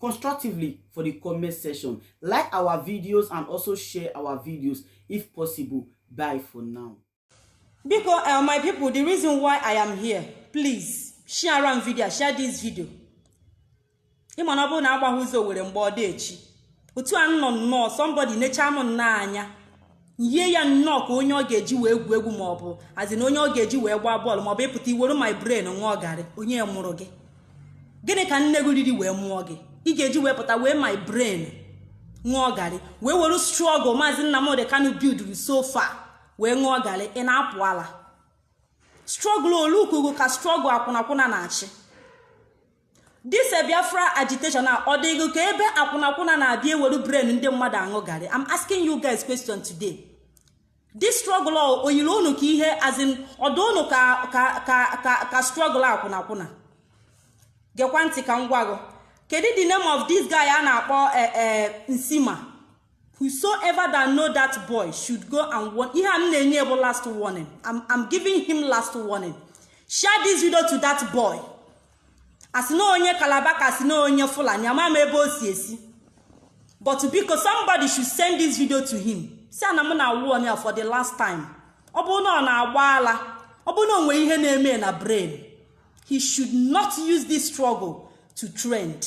constructively for the comment section. Like our videos and also share our videos if possible. Bye for now. Because uh, my people, the reason why I am here, please share around video, share this video. ịma na ọ bụrụ na agbaghị ụzọ owere mgba ọ da-echi otu a nọ nnọọ somebody necha m nnọọ anya yie ya nnọọ ka onye ọ ga-eji wee gwuo egwu ma ọ bụ as in onye ọ ga-eji wee gbaa bọọlụ ma ọ bụ ịpụta iwere my brain ṅụọ garị onye mụrụ gị gịnị ka nne gị riri wee mụọ gị ị ga-eji wee pụta were my brain ṅụọ garị wee were struggle maazị Nnamdi Kanu builduru so far wee ṅụọ garị ị na-apụ ala struggle olukugo ka struggle akwụnakwụna na-achị This a Biafra agitation a ọ dịgo ka ebe akwụnakwụna na-abịa ewere brain ndị mmadụ aṅụ garị I'm asking you guys question today this struggle o yiri unu ka ihe as in ọ dị unu ka ka ka ka ka struggle akwụnakwụna gekwa ntị ka m gwa gị kedu the name of this guy a na-akpọ eh, eh, Nsima whosoever that know that boy should go and warn ihe a m na-enye bụ last warning I'm, I'm giving him last warning share this video to that boy asị na onye calabar ka asị na onye fulani amaghị m ebe o si esi but biko somebody should send this video to him sị ya na m na-awarn ya for the last time ọ bụrụ na ọ na-agba ala ọ bụrụ na o nwere ihe na-eme na brain he should not use this struggle to trend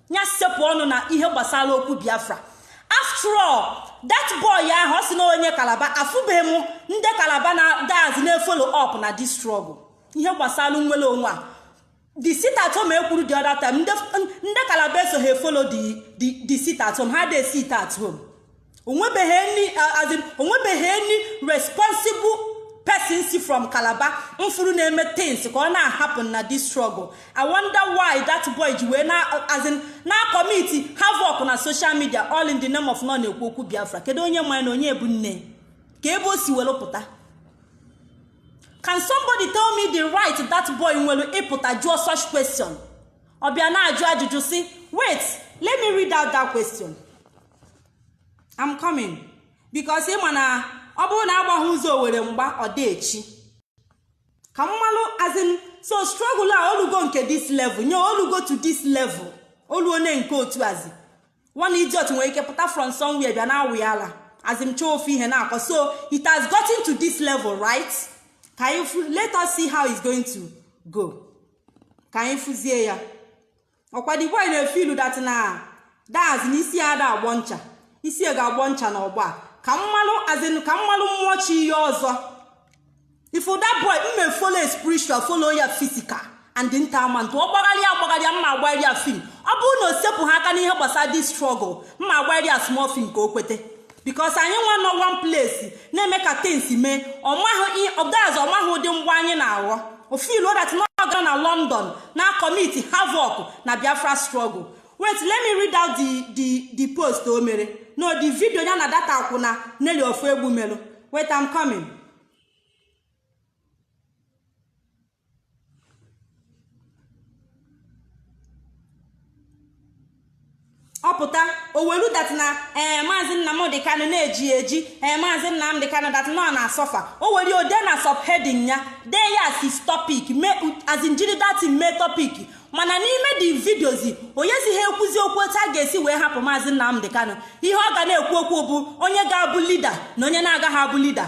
ya sepụ ọnụ na ihe gbasara okwu biafra after all that boy ahụ ọ sị na onye calabar afụbeghị m ndị calabar na as in na-efollow up na this struggle ihe gbasara nnwere onwe a the sit at home ekwuru the other time ndị calabar esoghị efollow the sit at home ha da-esit at home onwebeghị any as in onwebeghị any responsible person si from calabar m fụrụ na-eme things ka ọ na-ahappen na this struggle i wonder why that boy ji wee na as in na-acommit havoc na social media all in the name of na ọ na-ekwu okwu biafra kedu onye ma na onye bụ nne ka ebe o si were pụta can somebody tell me the right that boy nwere ịpụta jụọ such question ọ bịa na-ajụ ajụjụ si wait let me read out that question. I'm coming because ịma na ọ bụrụ na agbaghị ụzọ owere mgba ọ da-echi ka m malụ as in so struggle a olugo nke this level nya olugo to this level o luone nke otu as in one idiot nwere ike pụta from somewhere bịa na-awị ala as in chọọ ofu ihe na-akọ so it has gotten to this level right ka anyị let us see how it's going to go ka anyị fụzie ya ọkwa the boy na-efilu that na that's na isi ada agbọ ncha isi e ga-agbọ ncha na ọgba ka m malụ as in ka m malụ mmụọ chi ihe ọzọ if that boy mme follow spiritual follow ya physical and nta ama ntụ ọ gbagharịa gbagharịa mma agbaghari ya film ọ bụrụ na o sepụha aka n'ihe gbasara this struggle mma agbaghari ya small film ka o kwete because anyị nwa nọ one place na-eme ka things mee ọ that's ọ maghị ụdị ngwa anyị na-aghọ o filu that na ọ ga-anọ na london na-akọmiti havoc na biafra struggle wait let me read out the the the post o mere no the video ya na that akwụna nelly ofoegbu mere wait i'm coming ọ pụta o welu that na ee eh, maazị nnamdị kanụ na-eji eji ee eh, maazị nnamdị kanụ that nọ na-asọfa o were o dee na subheading ya dee ya as his topic as in jiri that thing mee topic mana n'ime the videos onyezi ha ekwuzi okwu otu a ga-esi wee hapụ maazị nnamdị kanụ ihe ọ ga na-ekwu okwu bụ onye ga-abụ leader na onye na-agaghị abụ leader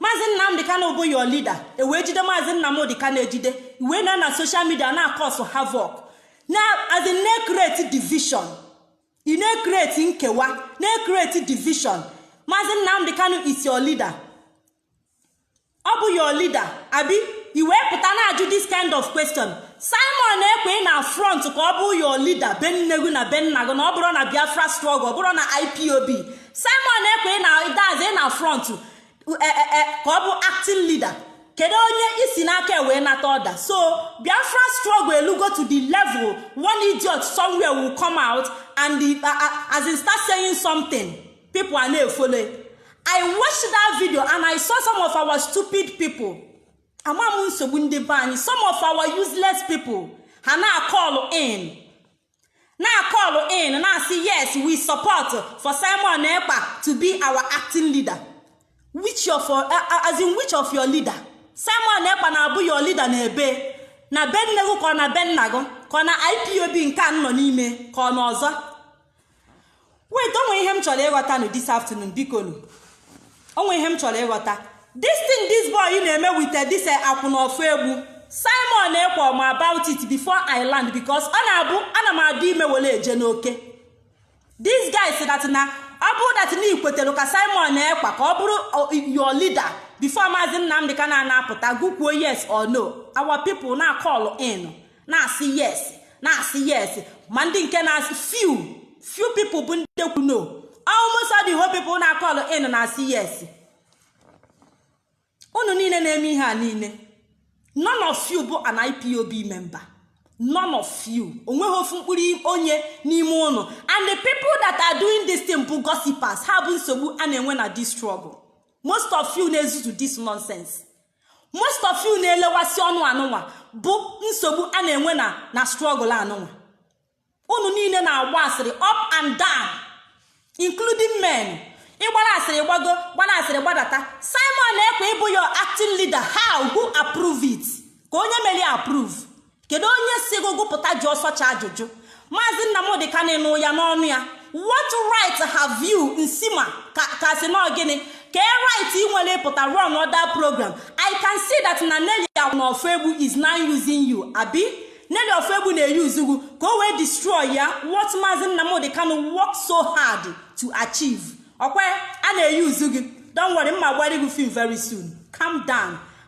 maazị nnamdị kanụ bụ your leader e wee jide maazị nnamdị kanụ ejide i wee nọ na social media na-akọsụ havoc na as in na-ekreti division ị na-ekreti nkewa na-ekreti division maazị nnamdị kanụ is your leader ọ bụ your leader abi i wee pụta na-ajụ this kind of question simon ekpa na front ka ọ bụ your leader be nne gị na be nna gị na ọ bụrụ na biafra struggle ọ bụrụ na ipob simon ekpa na that's ị na front e, e, e, ka ọ bụ acting leader kedu onye i si n'aka wee nata order so biafra struggle elugo to the level one idiot somewhere will come out and the, uh, uh, as in start saying something people ana-efollow i watched that video and i saw some of our stupid people ama m nsogbu ndị be anyị some of our useless people ha na-akọlụ in na-akọlụ in na-asị yes we support for Simon Ekpa to be our acting leader which of as in which of your leader Simon Ekpa na-abụ your leader na ebe na be nne gị ka ọ na be nna gị ka ọ na IPOB nke a nọ n'ime ka ọ na ọzọ wait o nwe ihe m chọrọ ịghọta nụ this afternoon biko nụ o nwe ihe m chọrọ ịghọta this thing this boy na-eme with eh, this eh, akwụna ofoegbu simon ekpa ma about it before i land because ọ na-abụ ana m adị ime were eje n'oke this guy sị that na ọ bụrụ that na i kwetere ka simon ekpa ka ọ bụrụ your leader before maazị nnamdị kanụ apụta gị kwuo yes or no our people na-akọlụ in na-asị yes na-asị yes ma ndị nke na-asị few few people bụ ndị kwu no almost all the whole people na call in na-asị yes unu niile na-eme ihe a niile none of you bụ an ipob member none of you onweghị ofu mkpụrụ onye n'ime ụnụ and the people that are doing this thing bụ gossipers ha bụ nsogbu a na-enwe na this struggle most of you na-ezuzu this nonsense most of you na-elewasị ọnụ anụnwa bụ nsogbu a na-enwe na na struggle anụnwa unu niile na-agba asịrị up and down including men ị gbara asịrị gbago gbara asịrị gbadata simon ekpa ịbụ your acting leader how who approve it ka onye mere approve kedu onye si gị gụ pụta jụọ such ajụjụ maazị Nnamdi Kanu ị nụ ya n'ọnụ ya what right have you nsima ka a sị na ọ gịnị kee right ị nwere ịpụta run other program i can see that na Nelly Ofegbu is now using you abi Nelly Ofegbu na-use gị ka o wee destroy ya what maazị Nnamdi Kanu work so hard to achieve ọkwa a na-use gị don't worry m ma-agbara gị film very soon calm down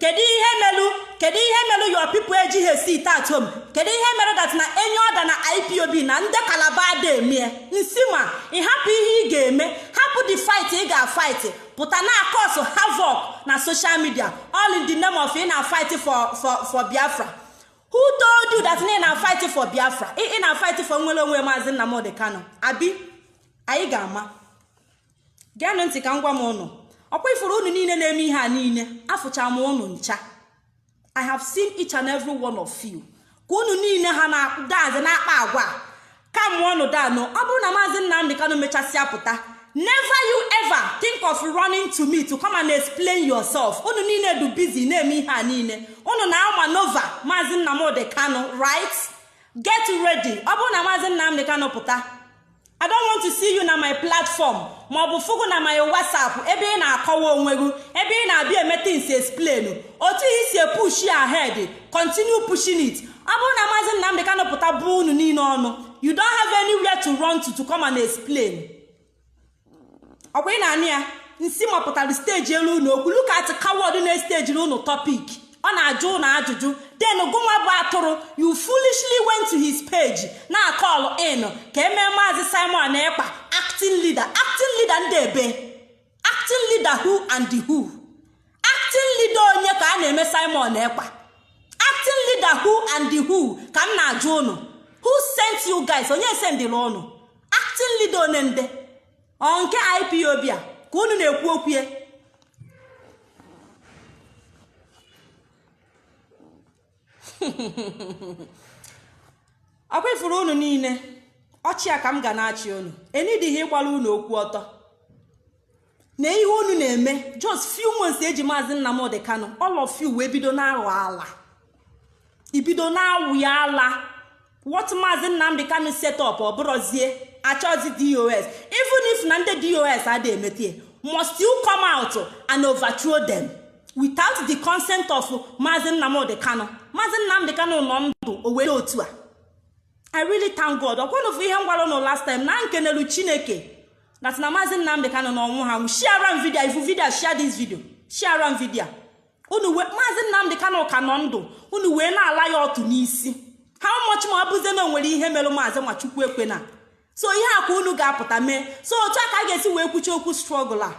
kedu ihe melu kedu ihe melu your people ejighị sit at home kedu ihe mere that a na-enye order na ipob na ndị Calabar ada emie nsima ị hapụ ihe ị ga-eme hapụ the fight ị ga-fight pụta na-cause havoc na social media all in the name of ị na fight for for for biafra who told you that ị na fight for biafra ị na fight for nnwere onwe maazị Nnamdi Kanu abi anyị ga-ama geenụ ntị ka m gwa m ụnụ ọkwa ị fụrụ ụnụ niile na-eme ihe a niile afụcha m ụnụ ncha i have seen each and every one of you ka ụnụ niile ha na-adazi na-akpa agwa ka mụọ ọnụ danụ ọ bụrụ na maazị Nnamdi Kanu mechasịa pụta never you ever think of running to me to come and explain yourself ụnụ niile du busy na-eme ihe a niile ụnụ na-maneuver maazị Nnamdi Kanu right get ready ọ bụrụ na maazị Nnamdi Kanu pụta I don't want to see you na my platform ma ọ bụ fụ gụ na my WhatsApp ebe ị na-akọwa onwe gị ebe ị na-abịa eme things explain otu i si push ahead continue pushing it ọ bụrụ na maazị Nnamdi Kanu pụta bụọ unu niile ọnụ you don't have anywhere to run to to come and explain. ọkwa ị na-anụ ya nsima pụtara stage elu unu okwu look at coward na-estejiri unu topic ọ na-ajụ ụnụ ajụjụ then gụnwa bụ atụrụ you foolishly went to his page na-call in ka e mee maazị simon ekpa acting leader acting leader ndị ebe acting leader who and the who acting leader onye ka a na-eme simon ekpa acting leader who and who ka m na-ajụ ụnụ who sent you guys onye sendịrị ụnụ acting leader onye nde ọ nke ipob a ka unu na-ekwu okwu ya ọkwa ifuru unu niile ọchị a ka m ga na-achị unu enidịghị ịgbara unu okwu ọtọ na ihe unu na-eme just few months eji maazị Nnamdi Kanu all of you wee bido na-aghọ ala ibido na-awụ ya ala what maazị Nnamdi Kanu set up ọ bụrụzie achọzi dos even if na ndị dos adịghị emete must you come out and overthrow them without the consent of maazị Nnamdi Kanu maazị Nnamdi Kanu nọ ndụ o were otu a i really thank god ọkwa ụnụ fụ ihe m gwara ụnụ last time na m kenelu chineke that na maazị nnamdị kanụ na ọ nwụha shiara m video ị fụ video share this video shiara m video unu wee maazị nnamdị kanụ ka nọ ndụ unu wee na-ala ya ọtụ n'isi how much more ọ bụzie na onwere ihe mere maazị ma chukwu ekwena so ihe a ka unu ga-apụta mee so otu a ka a ga-esi wee kwuchie okwu struggle a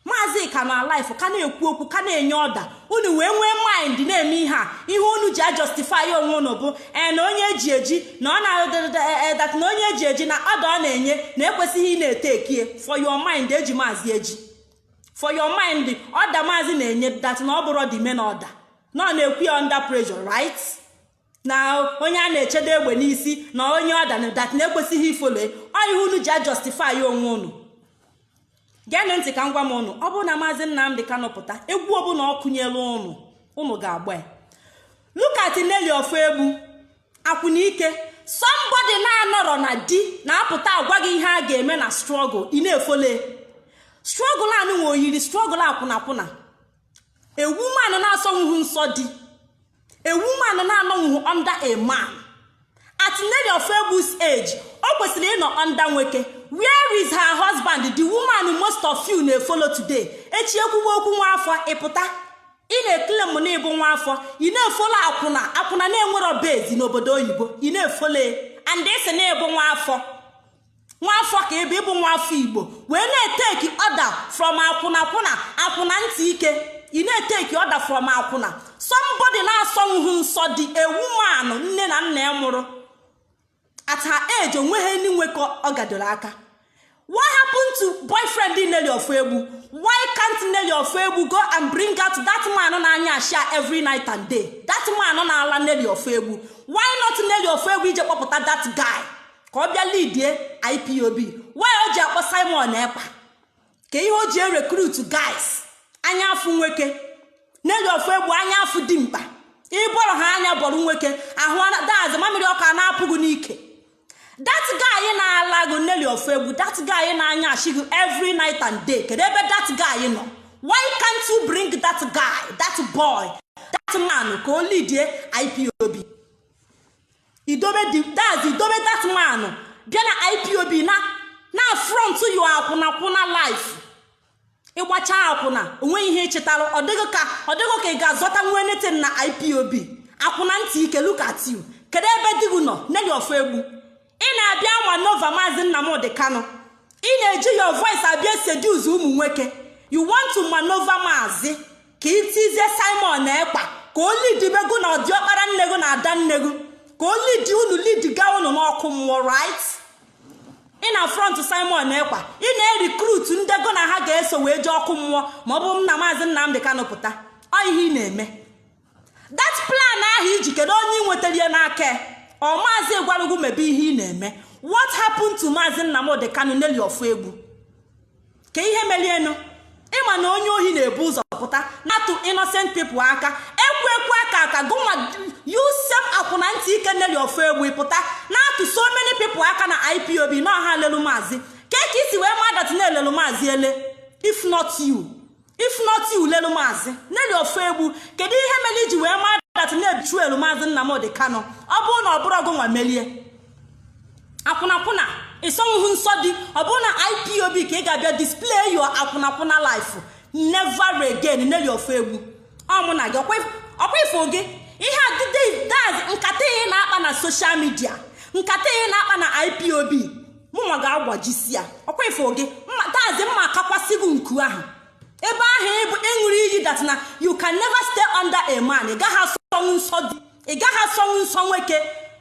maazị ka nọ alive ka na-ekwu okwu ka na-enye order unu wee nwee mind na-eme ihe a ihe unu ji ajustify onwe unu bụ ee na onye eji eji na ọ na-e that na onye eji eji na order ọ na-enye na ekwesịghị ị na-etekie for your mind eji maazị eji for your mind order maazị na-enye that na ọ bụrọ the main order na ọ na-ekwu ya under pressure right na onye a na-echedo egbe n'isi na o nye order na that na ekwesịghị ifolo ọ ihe unu ji ajustify onwe unu geenụ ntị ka m gwa ụnụ ọ bụrụ na maazị Nnamdị Kanụ pụta egwu ọbụla ọ kụnyere ụnụ ụnụ ga-agba ya look at Nelly Ofoegbu akwụna ike somebody na-anọrọ na di na-apụta agwa gị ihe a ga-eme na struggle ị na-efole struggle anụ nwe oyiri struggle akwụna akwụna a woman na-asọnwughị nsọ di a woman na-anọnwughị under a man at Nelly Ofoegbu's age o kwesịrị ịnọ under nwoke where is her husband the woman most of you na-efolo today echi ekwuwe okwu nwa afọ ị pụta ị na-eclaim na ịbụ nwa afọ ị na-efolo akwụna akwụna na-enwerọ base n'obodo oyibo ị na-efolo and ị sị na ịbụ nwa afọ nwaafọ ka ebe ịbụ nwaafọ igbo wee na-eteki order from akwụna akwụna akwụna ntị ike ị na-eteki order from akwụna somebody na-asọnwuhụ nsọ di a woman nne na nna ya mụrụ at her age onweghị ndị nwoke ọ gadoro aka what happened to boyfriend Nelly Ofoegbu why can't Nelly Ofoegbu go and bring out that man na-anya ashia every night and day that man na-ala Nelly Ofoegbu why not Nelly Ofoegbu ije kpọpụta that guy ka ọ bịa lidie ipob why o ji akpọ simon ekpa ka ihe o ji erecruit guys anya afụ nwoke Nelly Ofegbu anya afụ dimkpa ịbọrọ ha anya bọrọ nwoke ahụ that's mamịrị ọkụ a na-apụ gị n'ike that guy na-ala gị Nelly Ofegbu that guy na-anyasị gị every night and day kedu ebe that guy nọ why can't you bring that guy that boy that man ka o lidie ipob idobe that's idobe that man ahụ bịa na ipob na-front your akwụnakwụna life ịgbacha akwụna onweghị ihe ị chịtara ọ dị gị ka ị ga-azọtanwu anything na ipob akwụna ntị ike look at you kedu ebe di gị nọ Nelly Ofegbu ị na-abịa maneuver maazị nnamdị kanụ ị na-eji your voice abịa seduce ụmụ nwoke you want to maneuver maazị ka itizie simon ekpa ka o lidibe gụ na diọkpara nne gụ na ada nne gụ ka o lidi unu lidiga unu n'ọkụ mmụọ right ị na-front simon ekpa ị na-erecruit ndị gụ na ha ga-eso wee jee ọkụ mmụọ ma ọ bụ na maazị nnamdị kanụ pụta ọ ihe ị na-eme that plan ahụ i ji kedu onye ị nwetara ya n'aka ọ maazị gwara gụ mebe ihe ị na-eme what happened to maazị nnamdị kanụ Nelly Ofegbu kee ihe melienụ ị ma na onye ohi na-ebu ụzọ pụta na-atụ innocent people aka ekwekwe aka aka gụnwa you sef akwụna ntị ike Nelly Ofegbu pụta na-atụ so many people aka na ipob na ọ ha lelu maazị ka ka i si wee ma that na e lelu maazị ele if not you if not you lelu maazị Nelly Ofegbu kedu ihe mere i ji wee maa that na e betrayelu maazị Nnamdi Kanu ọ bụrụ na ọ bụrọ gụnwa melie akwụnakwụna ị sọnwuhụ nsọ di ọ bụrụ na ipob ka ị ga-abịa display your akwụnakwụna life never again Nelly Ofegbu ọ mụ na gị ọkwa ifo gị ihe a that's nkata ihe na-akpa na social media nkata ihe na-akpa na ipob mụnwa ga-agbajisi ya ọkwa ifo gị that's mma akakwasị gị nku ahụ ebe ahụ ọ bụ ị ṅụrụ iyi that na you can never stay under a man ị gaghị asọnwụ nsọ di ị gaghị asọnwụ nsọ nwoke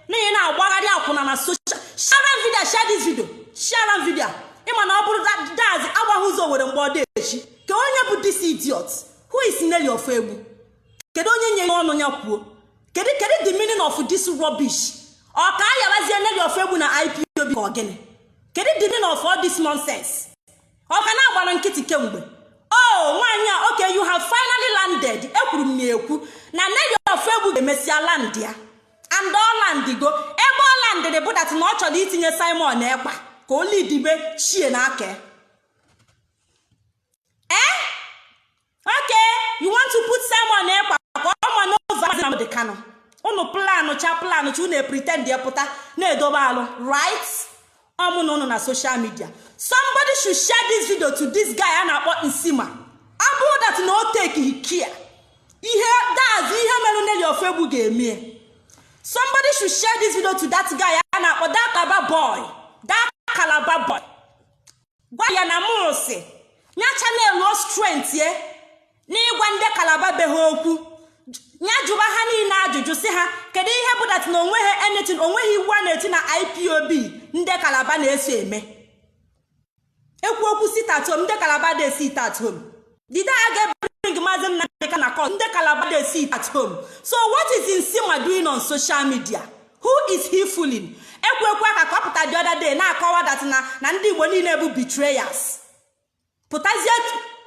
n'ihi na-agbagharị akwụna na social share video share this video share video ị ma na ọ bụrụ that's agbaghị ụzọ owere mgba ọ da echi kee onye bụ this idiot who is Nelly Ofegbu kedu onye nye ya ọnụ ya kwuo kedu kedu the meaning of this rubbish ọ ka a yarazie Nelly Ofegbu na ipob ka ọgịnị kedu the meaning of all this nonsense ọ ka na-agbara nkịtị kemgbe oh nwaanyị a okay you have finally landed ekwuru m na ekwu na Nelly Ofegbu ga-emesịa land ya and ọ landigo ebe ọ landịrị bụ that na ọ chọrọ itinye simon ekpa ka o lidibe chie n'aka ee eh? okay you want to put Simon Ekpa ka ọ maneuver maazị Nnamdi Kanu unu planụ cha planụ cha unu pretend ya pụta na-edobe alright ọ mụ na unu na social media somebody should share this video to this guy a na-akpọ Nsima ọ bụrụ that na o takeghị care ihe that's ihe merụ Nelly Ofegbu ga-emie somebody should share this video to that guy a na-akpọ that Aba boy that Calabar boy gwa ya na mụ sị ya channeluo strength ya n'ịgwa ndị Calabar be ha okwu ya jụba ha niile ajụjụ sị ha kedu ihe bụ that na onweghị anything onweghị iwu a na-eti na IPOB ndị Calabar na-eso eme ekwu okwu sit at home ndị Calabar dey sit at home the day a ga-ebring maazị Nnamdi Kanu na court ndị Calabar dey sit at home so what is Nsima doing on social media who is he fooling ekwekwe aka ka ọ pụta the other day na-akọwa that na na ndị Igbo niile bụ betrayers pụtazie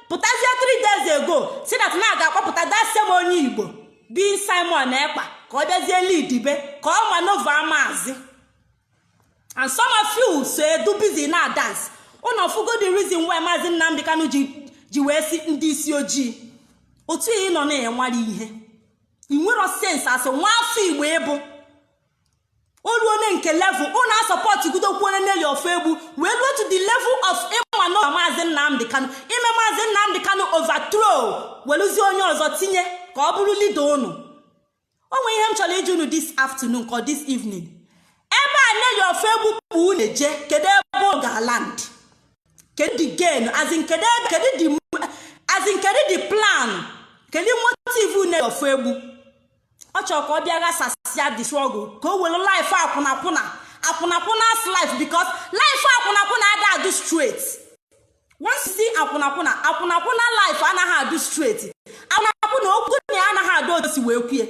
pụtazie three days ago sị that na a ga-akpọpụta that same onye Igbo being Simon Ekpa ka ọ bịazie leadibe ka ọ maneuver maazị and some of you so adụ busy na-adance unu afụgo the reason why maazị nnamdị kanu ji ji wee sị ndị isi ojii otu ị nọ na-enwere ihe ị nwero sense asị nwa afọ Igbo ịbụ olu onye nke level unu asupportụ gidokwu Nelly Ofegbu wee ruo to the level of ịma na maazị nnamdị kanu ime maazị nnamdị kanu overthrow weluzie onye ọzọ tinye ka ọ bụrụ leader unu o nwere ihe m chọrọ ịjụ unu this afternoon ka this evening ebe a Nelly Ofegbu kpụ unu eje kedu ebe ọ ga-aland kedu the gain as in kedu ebe kedu the as in kedu the plan kedu motive Nelly Ofegbu ọ chọrọ ka ọ bịa ghasasịa the struggle ka o were life akwụnakwụna akwụnakwụna as life because life akwụnakwụna ada adụ straight once you see akwụnakwụna akwụnakwụna life anaghị adụ straight akwụnakwụna okwu nya anaghị adụ otu o si wee kwue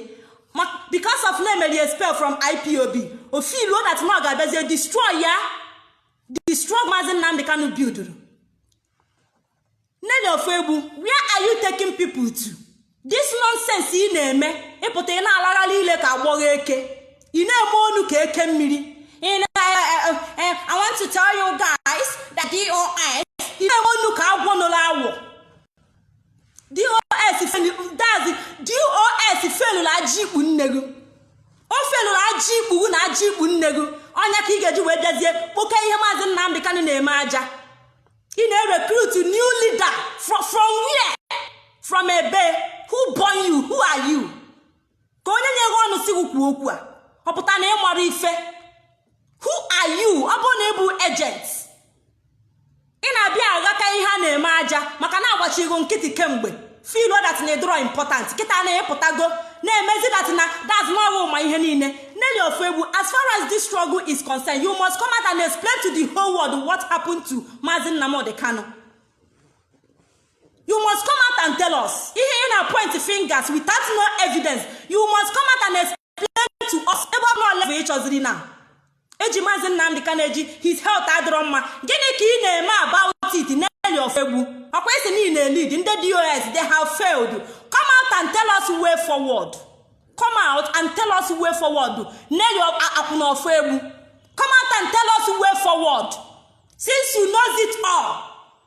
because of na e mere ya expel from IPOB o feeluo that na ọ ga-abịazie destroy ya destroy maazị nnamdị kanu builduru Nelly Ofegbu where are you taking people to this nonsense ị na-eme ịpụta ị na-alagharị ile ka agbọghọ eke ị na-eme onu ka eke mmiri ị na I want to tell you guys that DOS ị na-eme onu ka agwọ noro awọ DOS that is DOS felụrụ aji ikpu nne gị o felụrụ aji ikpu na aji ikpu nne gị ọ nya ka ị ga-eji wee bịazie kpoke ihe maazị Nnamdị Kanụ na-eme aja ị na-recruit new leader from from where from ebe who born you who are you kee onye nyere gị ọnụ si gị kwuo okwu a ọ pụta na ịmara ife who are you ọ bụ na ịbụ agent ị na-abịa aghọta ihe a na-eme aja maka na agbachigo nkịtị kemgbe feel that na ịdọrọ important kịta na-epụtago na-emezi that na that's not all ma ihe niile Nelly Ofegbu as far as this struggle is concerned you must come out and explain to the whole world what happened to Mazi Nnamdi Kanu you must come out and tell us ihe ị na point fingers without no evidence you must come out and explain explain to us ebe ọ bụla level ị chọziri now eji maazị nnamdị kanụ eji his health adịrọ mma gịnị ka ị na-eme about it Nelly Ofoegbu ọkwa ị sị na ị na-elead ndị dos they have failed come out and tell us way forward come out and tell us way forward Nelly akwụna Ofoegbu come out and tell us way forward since you know it all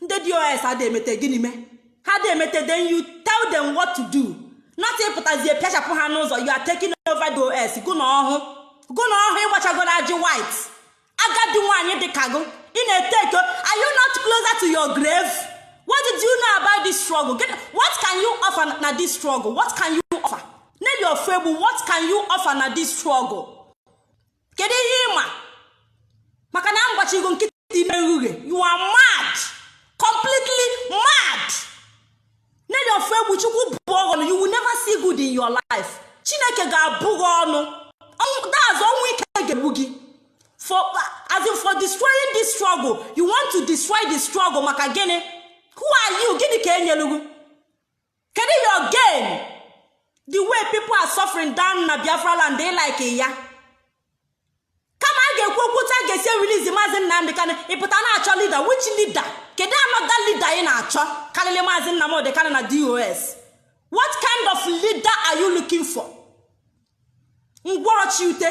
ndị dos adị emete gịnị mee ha adị emete then you tell them what to do not ịpụtazie pịachapụ ha n'ụzọ you are taking over dos gụ na ọhụ gụ na ọhụ ịgbachagoro ajị white agadi nwaanyị dị ka gụ ị na-ete eto are you not closer to your grave what did you know about this struggle what can you offer na this struggle what can you offer Nelly Ofoegbu what can you offer na this struggle kedu ihe ịma maka na m gbachigo nkịtị ime nrughe you are mad completely mad Nelly Ofoegbu chukwu bụọ ghụ ọnụ you will never see good in your life chineke ga-abụ gị ọnụ that's ọnwụ ike ga-egbu gị for as in for destroying this struggle you want to destroy the struggle maka gịnị who are you gịnị ka enyelu gị kedu your gain the way people are suffering down na biafra land ị like ya kama a ga-ekwu okwu otu a ga-esi release maazị nnamdị kanụ ịpụta na-achọ leader which leader kedu another leader ị na-achọ karịrị maazị nnamdị kanụ na dos what kind of leader are you looking for ngwọrọ chi ute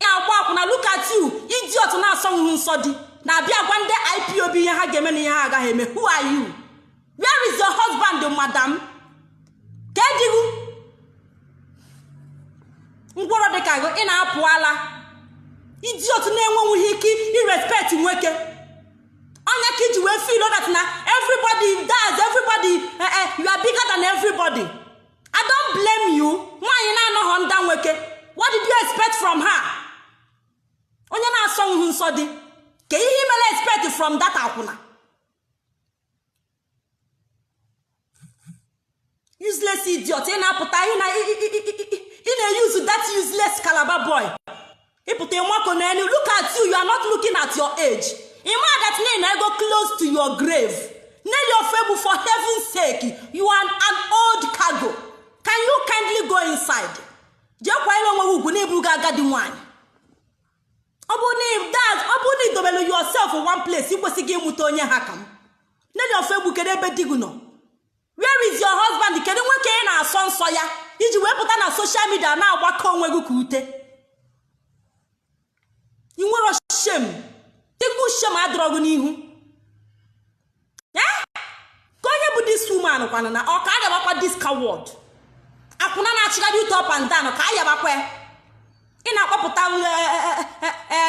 na-agba akwụna look at you idiot na-asọnwụghị nsọ di na-abịa gwa ndị ipob ihe ha ga-eme na ihe ha agaghị eme who are you where is your husband madam kee di gụ ngwọrọ dị ka gị ị na-apụ ala idiot na-enwenwughị ike irespect nwoke onye ka iji wee feel that na everybody that's everybody eh, eh, you are bigger than everybody i don't blame you nwaanyị na-anọghọ under nwoke what did you expect from her onye na-asọhụ nsọ di kee ihe imere expect from that akwụna useless idiot ị na-apụta ị na-euse that useless calabar boy ịpụta ịmako n'elu look at you you are not looking at your age ịma that na ị nọgo close to your grave Nelly Ofoegbu for heaven sake you are an old cargo can you kindly go inside jee kwanyere onwe gị ugwu na ị bụgo agadi nwanyị ọ bụ na idobelu yourself one place ị kwesịgo ịmụta onye ha ka m Nelly Ofoegbu kedu ebe di gị nọ where is your husband kedu nwoke ị na-asọ nsọ ya iji wee pụta na social media na-agbakọ onwe gị ka ute ị nwere shame tegbu shame adịrọ gị n'ihu ka onye bụ this woman kwana na ọ ka agabakwa this coward akwụna na-achịgharị ute up and down ka a yabakwa ị na-akpọpụta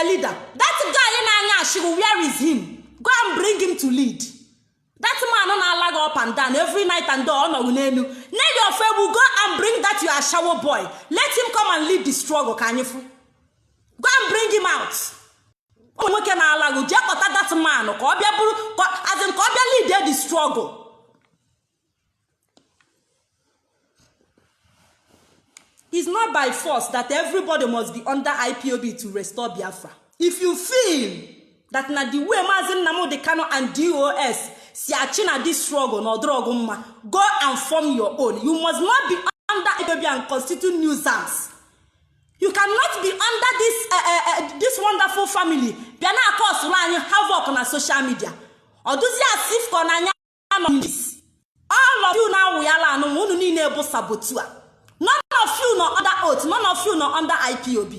leader that guy ị na-anya ashịgụ where is him go and bring him to lead that man na-ala gị up and down every night and day ọ nọ gị n'elu name your friend will go and bring that your ashawo boy let him come and lead the struggle ka anyị fụ go and bring him out nwoke na-ala gị jee kpọta that man ka ọ bịa bụrụ as in ka ọ bịa lead the struggle it's not by force that everybody must be under ipob to restore biafra if you feel that na the way maazị nnamdị kanụ and dos si achị na this struggle na ọ dụrọ gụ mma go and form your own you must not be under ipob and constitute nuisance you cannot be under this, uh, uh, uh, this wonderful family bịa na-akọsụrụ anyị havoc na social media ọ dụzi as if ka ọ na anya none of this all of you na awụyala anụ ma unu niile bụ saboteur none of you nọ under oath none of you nọ under ipob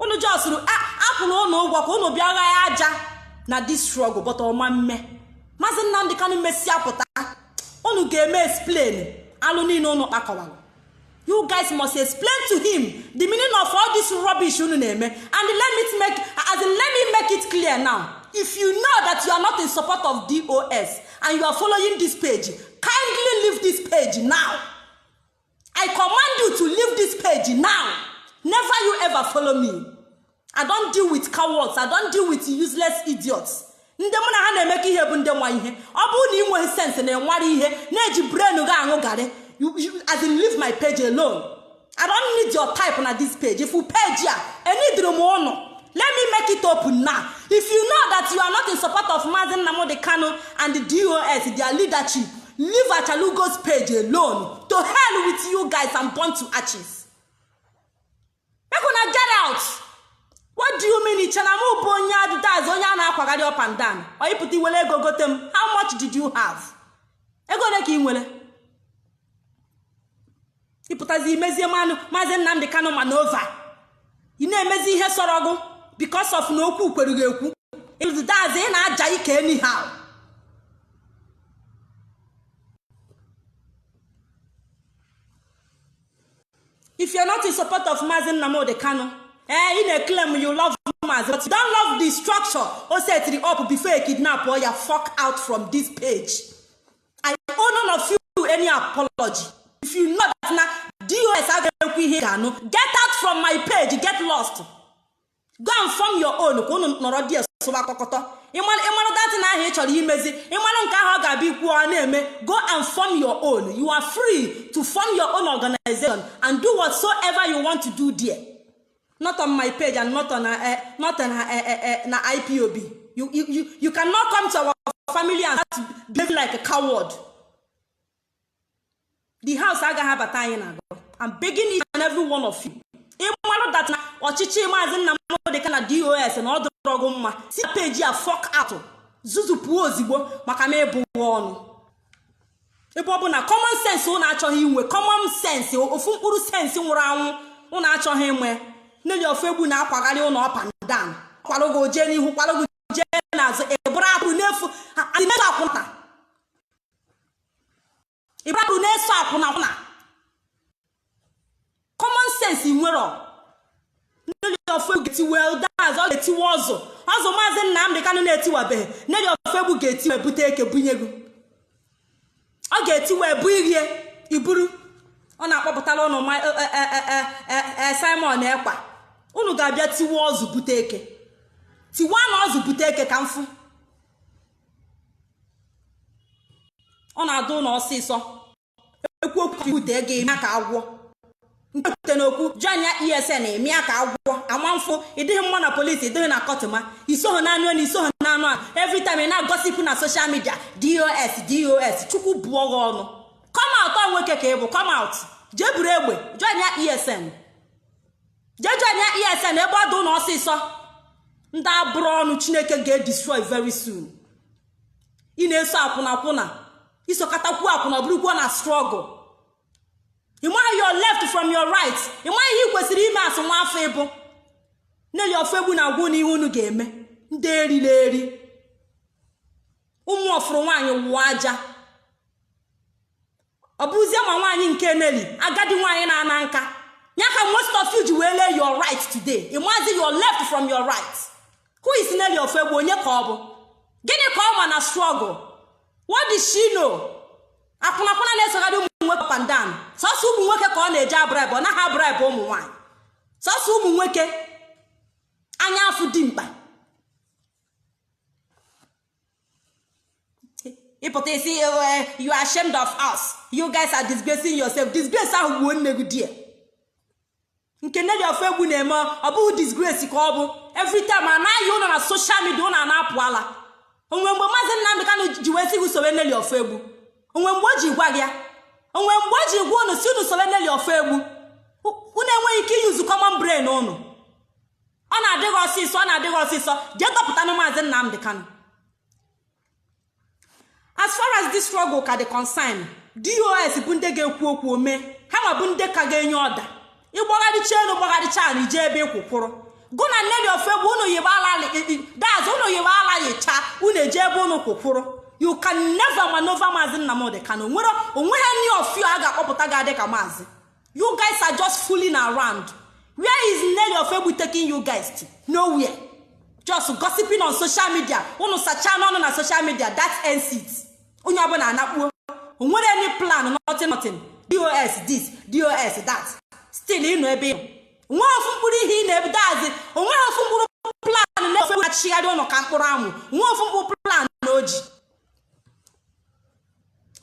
unu just a kwụrụ ụnụ ụgwọ ka unu bịa gha ya aja na this struggle but ọ ma mme maazị nnamdị kanụ mesịa pụta unu ga-eme explain alụ niile unu kpakọwara you guys must explain to him the meaning of all this rubbish unu na-eme and let me make as in let me make it clear now if you know that you are not in support of dos and you are following this page kindly leave this page now i command you to leave this page now never you ever follow me i don't deal with cowards i don't deal with useless idiots ndị mụ na ha na-emekọ ihe bụ ndị nwa ihe ọ bụrụ na ị nweghị sense na ị nwara ihe na-eji brain gị aṅụ garị as in leave my page alone i don't need your type na this page if you page a enidirọ m ụnụ let me make it open now if you know that you are not in support of Mazi Nnamdi Kanu and the DOS their leadership leave Achalugo's page alone to hell with you guys and burn to ashes make una get out what do you mean i che na m bụ onye a that's onye a na-akwagharị up and down onye pụta i were ego gote m how much did you have ego ole ka ị nwere ị pụtazi i mezie mmanụ maazị nnamdị kanụ ma n'ova ị na-emezi ihe sọrọ gụ because of na okwu kwere gị ekwu that's ị na-aja ike anyhow if you're not in support of Mazi Nnamdi Kanu eh ị na-eklem you love Mazi but you don't love the structure o setiri up before e kidnap ya fuck out from this page I owe none of you any apology if you know that na dos agaghị ekwu ihe ga-anụ get out from my page get lost go and form your own ka unu nọrọ there sụba kọkọtọ ị marụ that thing ahụ ị chọrọ imezi ị marụ nke ahụ ọ ga-abịa ikwu ọ na-eme go and form your own you are free to form your own organization and do whatsoever you want to do there not on my page and not on, uh, not on uh, uh, uh, na ipob you, you, you, you cannot come to our family and start behaving like a coward the house agaghị abata anyị na agụ I'm begging each and every one of you ị marụ that na ọchịchị maazị Nnamdị Kanụ na DOS na ọ dịrọ gị mma si page a fuck out zuzupụo ozigbo maka na ịbụghị ọnụ ebe ọ bụ na common sense ụnụ achọghị inwe common sense ofu mkpụrụ sense nwụrụ anwụ ụnụ achọghị inwe Nelly Ofoegbu na-akwagharị ụnụ up and down kwalụ gị jee n'ihu kwalụ gị jee n'azụ ị bụrụ atụrụ n'efu adịmego akwụna ị bụrụ na-eso akwụnakwụna common sense nwere Nelly Ofoegbu ga-etiwe that's ọ ga-etiwe ọzọ ọzọ maazị Nnamdị Kanụ na-etiwabeghị Nelly Ofoegbu ga-etiwe bute eke bunye gị ọ ga-etiwe bụ irie iburu ọ na-akpọpụtara ụnụ Simon Ekpa unu ga-abịa tiwe ọzụ bute eke tiwa na ozu bute eke ka m fụ ọ na-adị ụnụ ọsịsọ ikwu okwu e kwute ego ị mịa ka agwọ m kwute n'okwu joinia ESN mịa ka agwọ ama mfụ ị dịghị mma na polisi ị dịghị na kọtụma i soghị na anụ elu i soghị na anụ ala every time ị na-agossip na social media DOS DOS Chukwu bụọ gị ọnụ come out ọ nwoke ka ị bụ come out jee buru egbe joinia ESN jee joinia ESN ebe ọ dị ụnụ ọsịsọ ndị a bụrụ ọnụ Chineke ga-edestroy very soon ị na-eso akwụnakwụna i sokatakwuo akwụna ọ bụrụkwa na struggle ị maghị your left from your right ị maghị ihe ị kwesịrị ime as nwa afọ ị bụ Nelly Ofoegbu na-agwa unu ihe unu ga-eme ndị erila eri ụmụ ọ fụrụ nwaanyị wụọ aja ọ bụzie ma nwaanyị nke Nelly agadi nwaanyị na-ana nka ya ka most of you ji wee lee your right today ị mazi your left from your right who is Nelly Ofoegbu onye ka ọ bụ gịnị ka ọ ma na struggle what did she know akwụnakwụna na-esogharị ụmụ nwoke up and down sọsọ ụmụ nwoke ka ọ na-eje abribe ọ naghị abribe ụmụ nwaanyị sọsọ ụmụ nwoke anya afụ dimkpa ị pụta ị sị you are ashamed of us you guys are disgracing yourself disgrace ahụ gbuo nne gị there nke Nelly Ofoegbu na-eme ọ bụghị disgrace ka ọ bụ every time a na-ahụ unu na social media unu na-apụ ala o nwe mgbe maazị Nnamdi Kanu ji wee sị gị sowe Nelly Ofoegbu o nwe mgbe o ji gwa gị ya o nwe mgbe o ji gwa unu sị unu sowe Nelly Ofoegbu unu enweghị ike i-use common brain unu ọ na-adịghị ọsịsọ ọ na-adịghị ọsịsọ jee dọpụta na maazị nnamdị kanụ as far as this struggle ka dị concern dos bụ ndị ga-ekwu okwu ome ha ma bụ ndị ka ga-enye order ịgbagharịcha elu gbagharịcha ala ije ebe ịkwụkwụrụ gụ na nelly ofoegbu unu yiwe ala daz unu yiwe ala yicha unu eje ebe unu kwụkwụrụ you can never maneuver maazị nnamdị kanụ onwere any of you a ga-akpọpụta ga-adị ka maazị you guys are just fooling around where is Nelly Ofoegbu taking you guys to nowhere just gossiping on social media unu sachaa n'ọnụ na social media that ends it onye ọbụla anakpuo onwere any plan nothing nothing dos this dos that still ị nọ ebe ị nọ onwe ofu mkpụrụ ihe ị na-ebido azi onweghị ofu mkpụrụ plan na ofoegbu achịgharị unu ka mkpụrụ amụ onwe ofu mkpụrụ plan na o ji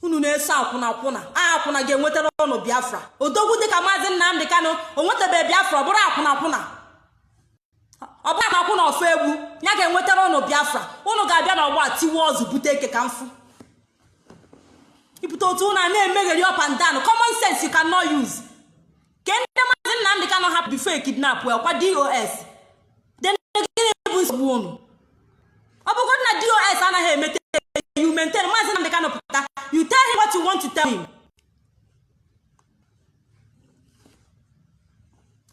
unu na-eso akwụna akwụna akwụna ga-enwetara unu biafra odogwu dịka maazị nnamdị kanụ o nwetabeghị biafra ọ bụrụ akwụna akwụna ọ bụrụ na akwụna ofoegbu ya ga-enwetara unu biafra unu ga-abịa na ọgba tiwe ụzụ bute eke ka m fụ ibute otu unu a na-emegheri up and down common sense you cannot use ke ndị maazị nnamdị kanụ hapụ before e kidnap ya kwa dos then gịnị bụ nsogbu unu ọ bụgodị na dos anaghị emete you maintain maazị nnamdị kanụ pụta you tell him what you want to tell him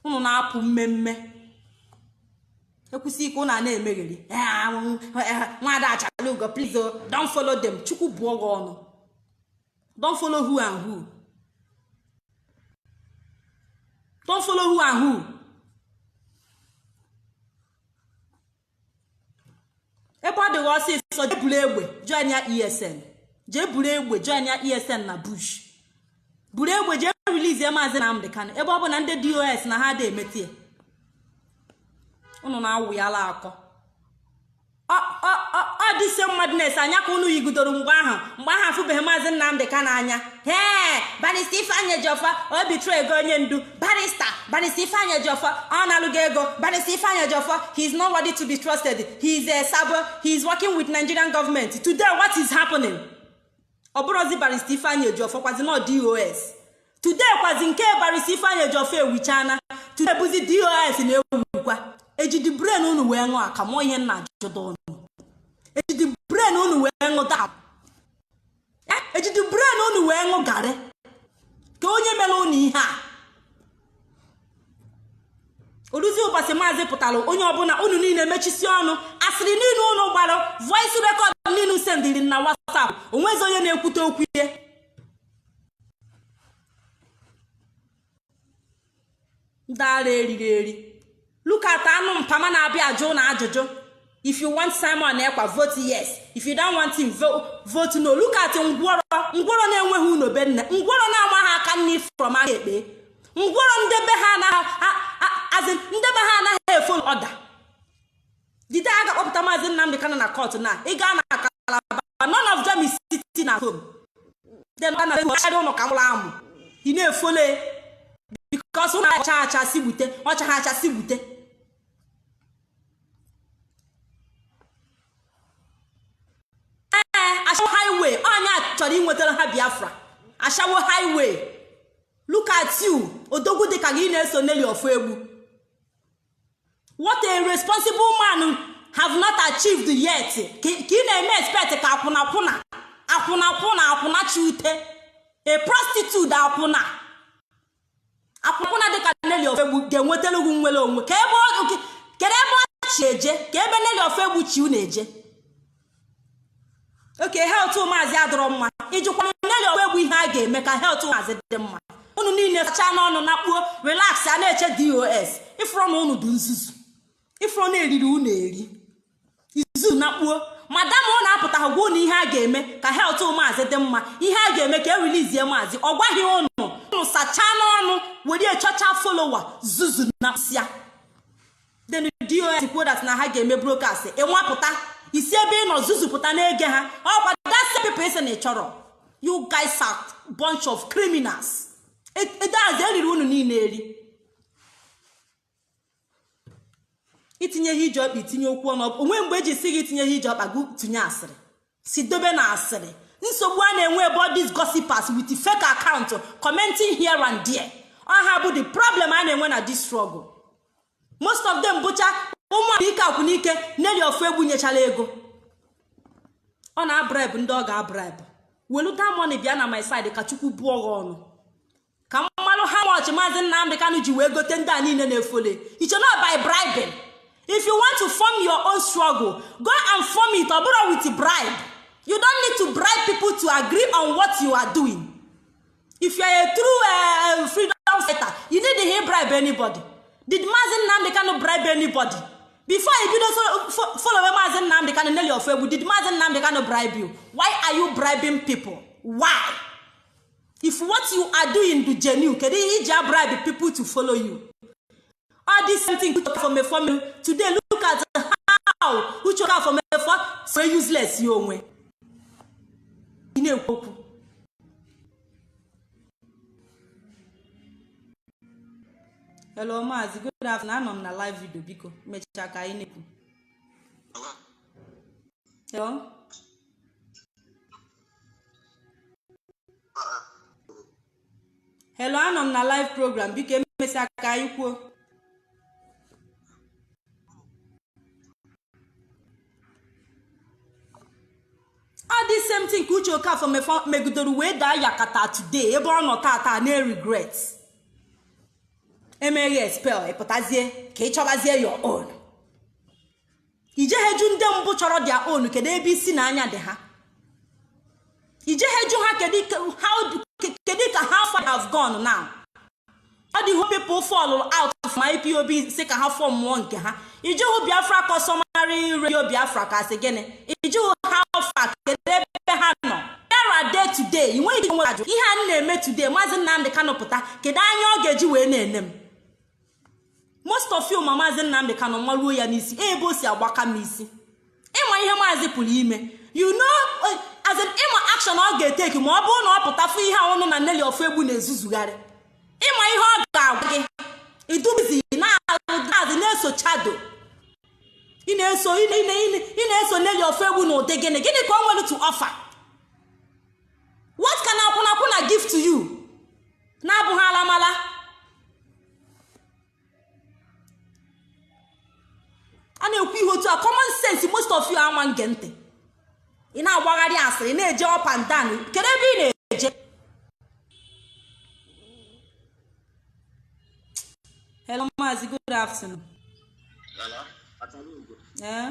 unu na-apụ mmemme ekwusi ike unu a na-emegheri nwaada achalugo please don't follow them chukwu bụọ gị ọnụ don't follow who and who don't follow who and who ebe ọ dịghị ọsịsọ jee buru egbe join ya esn jee buru egbe join ya esn na bush buru egbe jee release ya maazị Nnamdi Kanu ebe ọ bụ na ndị dos na ha dị emetie unu na-awụ ya ala akọ ọ this same madness a nya ka unu yigidoro mgbe ahụ mgbe ahụ afụbeghị maazị nnamdị kanụ anya hee barrister ifeanyị ejiọfọ o betraygo onye ndu barrister barrister ifeanyị ejiọfọ ọ nalụgo ego barrister ifeanyị ejiọfọ he is not worthy to be trusted he is a sabo he is working with nigerian government today what is happening ọ bụrụzi barrister ifeanyị ejiọfọ kwazi nọ dos today kwazi nke barrister ifeanyị ejiọfọ ewuchaana today bụzi dos na-ewukwa ejidi brain unu wee ṅụọ akamụ ihe m na-ajụdo unu ejidi brain unu wee ṅụ dap ejidi brain unu wee ṅụ garị ka onye mere unu ihe a oruzi ụbọchị maazị pụtara onye ọbụla unu niile mechisi ọnụ asịrị niile unu gbara voice record niile sendiri na WhatsApp onwezi onye na-ekwute okwu ihe ndị ara eriri eri look at anụ mpama na-abịa ajụ unu ajụjụ if you want simon ekpa vote yes if you don't want him vote no look at ngwọrọ ngwọrọ na-enweghị ụnọ be nne ngwọrọ na-amaghị aka nni from aka ekpe ngwọrọ nde be ha anaghị nde be ha anaghị efolo order the day a ga-akpọpụta maazị Nnamdị Kanu na court na ị gaa na Calabar none of them is sitting at home then na na-ekwuchara ụlọ ka mụrụ amụ ị na-efole because ụlọ ọcha acha si gbute ọcha ha acha si gbute ee ashawo highway onye a chọrọ inwetara ha Biafra ashawo highway look at you odogwu dịka gị na-eso Nelly Ofoegbu what a responsible man have not achieved yet ka ị na-eme expect ka akwụnakwụna akwụnakwụna akwụna chute a prostitute akwụna akwụnakwụna dịka Nelly Ofoegbu ga-enwetara gị nnwere onwe ka ebe kedu ebe ọ chị eje ka ebe Nelly Ofoegbu chị unu eje okay health maazị adịrọ mma ị jụkwana Nelly Ofoegbu ihe a ga-eme ka health maazị dị mma unu niile sachaa n'ọnụ na kpuo relax a na-eche DOS ifụrụ na unu dị nzuzu ifụrụ na e riri unu eri izu na kpuo madam unu apụtaghị gwa unu ihe a ga-eme ka health maazị dị mma ihe a ga-eme ka e release maazị ọ gwaghị unu unu sachaa n'ọnụ were chọcha folowa zuzu na sịa then DOS kwuo that na ha ga-eme broadcast ị nwapụta isi ebe ị nọ zuzupụta na-ege ha ọ kwa that's the people ị sị na ị chọrọ you guys are bunch of criminals that's e riri unu niile eri itinye ihe iji ọkpa itinye okwu ọnụ o nwe mgbe e ji sị gị itinye ihe iji ọkpa gị tinye asịrị si dobe na asịrị nsogbu a na-enwe bụ all these gossipers with fake account commenting here and there ọ ha bụ the problem a na-enwe na this struggle most of them bụcha ụmụaka ike akwụ n'ike Nelly Ofoegbu nyechara ego ọ na-abribe ndị ọ ga-abribe weluta money bịa na my side ka chukwu bụọ gị ọnụ ka mmalụ how much maazị nnamdị kanụ ji wee gote ndị a niile na-efole it's not by bribing if you want to form your own struggle go and form it ọ bụrọ with bribe you don't need to bribe people to agree on what you are doing if you are a true uh, freedom fighter you need to bribe anybody did maazị nnamdị kanụ bribe anybody before you bido follow maazị nnamdị kanụ Nelly Ofoegbu did maazị nnamdị kanụ bribe you why are you bribing people why? if what you are doing dụ genuine kedu ihe i ji abribe people to follow you all this same thing uche okafọ mefọ mere today look at how uche okafọ mefọ so useless ya onwe ị na-ekwu okwu hello maazị good afternoon anọ m na live video biko mechaa ka anyị na-ekwu hello hello anọ m na live program biko emesịa ka anyị kwuo all this same thing ka uche okafọ mefọ- megidere wee daa yakata today ebe ọ nọ tata na-eregret e mee gị expel ị pụtazie ka ị chọbazie your own i jeghe jụ ndị mbụ chọrọ their own kedu ebe isi na anya dị ha i jeghe jụ ha kedu ka how far have gone now all the people fall out from IPOB sị ka ha formụọ nke ha ị jụhụ biafra customary radio biafra ka a sị gịnị ị jụhụ how far kedu ebe ha nọ era day today ị nweghị ike nwere ajụ ihe a na-eme today maazị nnamdị kanụ pụta kedu anya ọ ga-eji wee na-ene m most of you ma maazị nnamdị kanụ maruo ya n'isi ebe o si agbaka m isi ị ma ihe maazị pụrụ ime you know eh, as in ị ma action ọ ga-etake ma ọ bụrụ na ọ pụta fụ ihe a ụnụ na nelly ofoegbu na-ezuzugharị ị ma ihe ọ ga-agwa gị ị dụ busy na-alụ gazi na-eso shadow ị na-eso ị na-eso nelly ofoegbu na ụdị gịnị gịnị ka o nwere to offer what can akwụnakwụna give to you na-abụghị alamala a na-ekwu ihe otu a common sense most of you aman ge ntị ị na-agbagharị asịrị na-eje up and down kedu ebe ị na-eje hello maazị good afternoon ee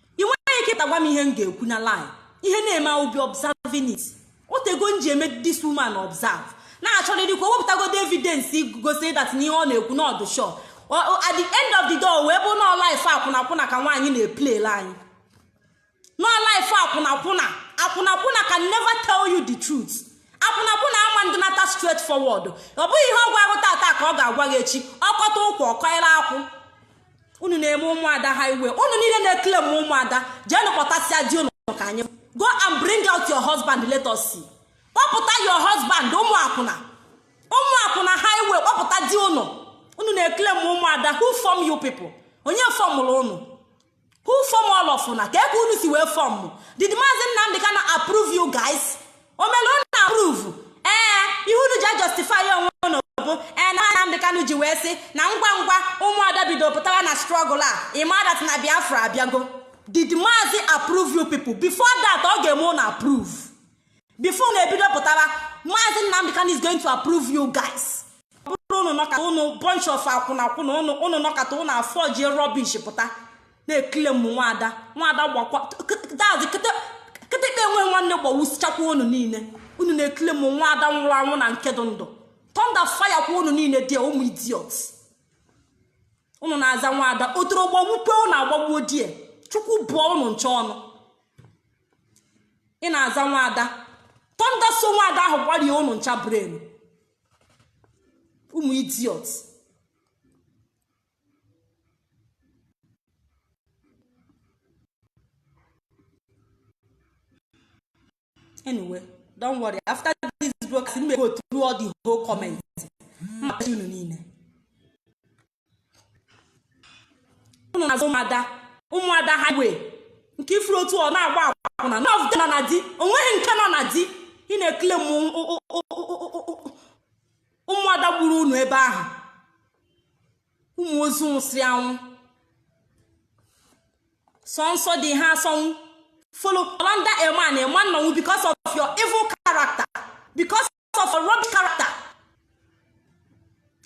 ị nweghị ike tagwa m ihe m ga-ekwu na line ihe na-eme I will be observing it o tego m ji eme this woman observe na-achọrịrị ka o wepụtagodo evidence gosi that na ihe ọ na-ekwu na ọ dụ sure at the end of the day wee bụ nọọ life akwụnakwụna ka nwaanyị na-eplaylụ anyị nọọ life akwụnakwụna akwụnakwụna can never tell you the truth akwụnakwụna aman dịnata straight forward ọ bụghị ihe ọ gwara gị tata ka ọ ga-agwa gị echi ọ kọta ụkwụ ọkọịla akwụ unu na-eme ụmụada highway unu niile na-eclaim ụmụada jeenụ kpọtasịa di unu ka anyị go and bring out your husband let us see kpọpụta your husband ụmụ akwụna ụmụ akwụna highway kpọpụta di unu unu na-eclaim ụmụada who form you people onye fọmụrụ unu who form all of una kee ka unu si wee fọm did maazị Nnamdi Kanu approve you guys o melu unu approve ee ihe unu ji ajustify onwe unu bụ ee na Nnamdi Kanu ji wee sị na ngwa ngwa ụmụada bido pụtawa na struggle a ị ma that na Biafra abịago did maazị approve you people before that ọ ga-eme unu approve before unu ebido pụtawa maazị Nnamdi Kanu is going to approve you guys ọ bụrụ unu nọkata unu bunch of akwụnakwụna unu nọkata unu aforge rubbish pụta na-eclaim nwaada nwaada gbakwa that is kịtịkpa enwe nwanne gbawusichakwa unu niile unu na-eclaim nwaada nwụrụ anwụ na nke dị ndụ thunder fire kwa unu niile dị ụmụ idiots unu na-aza nwaada otoro gbawukwe unu agbagbuo die chukwu bụọ unu ncha ọnụ ị na-aza nwaada thunder so nwaada ahụ gbarie unu ncha brain ụmụ idiots anyway don't worry after this broadcast m go through all the whole comment m machie unu niile unu na-aza ụmụada ụmụada highway nke ị fụrụ otu ọ na-agba akwụna none of them nọ na di onweghị nke nọ na di ị na-eclaim ụmụada gburu unu ebe ahụ ụmụ ozu nwụsịrị anwụ sọ nsọ di ha asọnwụ nọlọ under a man ị ma nọnwụ because of your evil character because of your rubbish character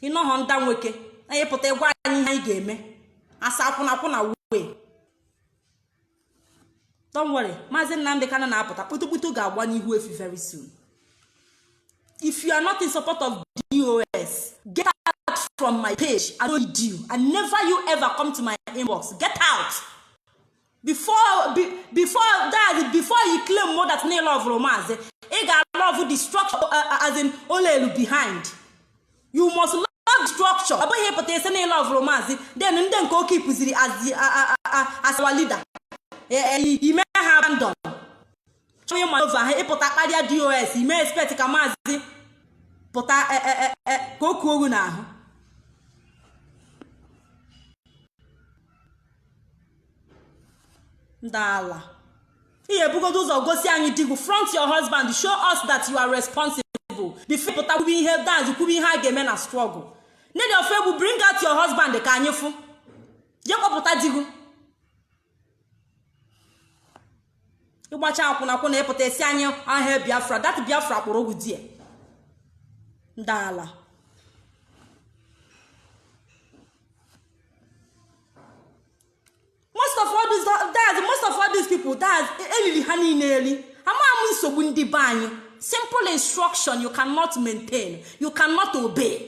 ị nọghọ under nwoke and ị pụta ịgwa anyị ihe anyị ga-eme as akwụnakwụna wee don't worry maazị nnamdị kana na-apụta kputukputu ga-agba n'ihu efi very soon if you are not in support of dos get out from my page i no need you and never you ever come to my inbox get out before be, before that before you claim more that na love maazị ị ga-alove the structure uh, uh, as in ụlọ elu behind you must love structure ọ bụghị ịpụta ịsị na ị lovuru maazị then ndị nke o keepuziri as our leader e, e, ime ha abandon chọọ ịma over ha ịpụta kparịa DOS ime expect ka maazị pụta e, ka o kuo gị n'ahụ ndị ala ị ga-ebugodo ụzọ gosi anyị di gị front your husband show us that you are responsible before pụta kwube ihe that is kwube ihe a ga-eme na struggle nne dị ofe egwu bring out your husband ka anyị fụ je kpọpụta di gị ịgbacha akwụnakwụna ịpụta ịsị anyị all hail biafra that biafra kpọrọ ogwu die ndị ala most of all these that's most of all these people that's elili ha niile eli amaghị m nsogbu ndị be anyị simple instruction you cannot maintain you cannot obey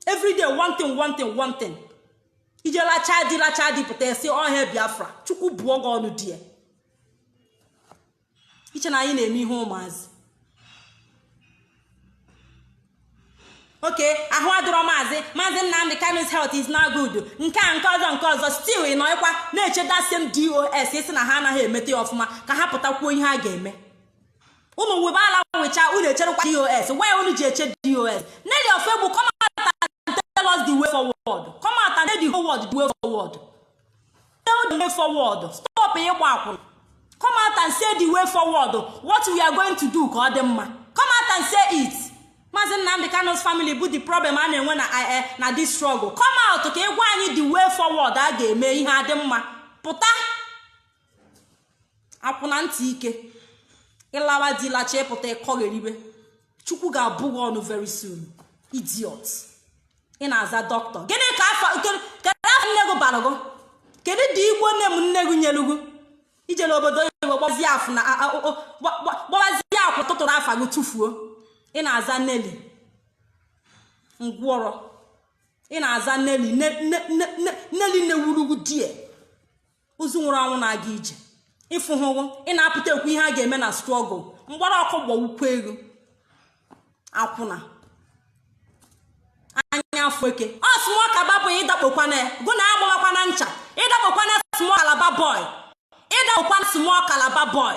every day one thing one thing one thing ije lacha di lacha di pụta ị sị all hail biafra chukwu bụọ gị ọnụ die i che na anyị na-eme ihe ụmụazị okay ahụ adịrọ maazị maazị nnamdị kanu's health is not good nke a nke ọzọ nke ọzọ still ị nọkwa na-eche that same dos ị sị na ha anaghị emete ya ọfụma ka ha pụtakwuo ihe a ga-eme ụmụ webe ala wecha unu echerekwa dos why unu ji eche dos nelly ofoegbu come out and tell us the way forward come out and tell the whole world the way forward tell the way forward stop ịgba akwụna come out and say the way forward what we are going to do ka ọ dị mma come out and say it maazị nnamdị kanu's family bụ the problem a na-enwe na eh, eh, na this struggle come out ka ị gwa anyị the way forward a ga-eme ihe adị mma pụta akwụna ntị ike ị lawa di lacha ị pụta ị kọgheribe chukwu ga-abụ gị ọnụ very soon idiot ị na-aza doctor gịnị ka afa kedu afa nne gị bara gị kedu the igbo name nne gị nyelu gị i jere obodo oyibo gbazie akwụna gbazie akwụ tụtụrụ afa gị tụfuo ị na-aza nelly ngwọrọ ị na-aza nelly nelly newurugwu die ozu nwụrụ anwụ na-aga ije ịfụ ha ụgwọ ị na-apụta ekwu ihe a ga-eme na struggle mgbara ọkụ gbagbukwe gị akwụna anya afọ eke ọ small calabar boy ịdakpokwana ya gụ na agbawakwana ncha ịdakpokwana small calabar boy ịdakpokwana small calabar boy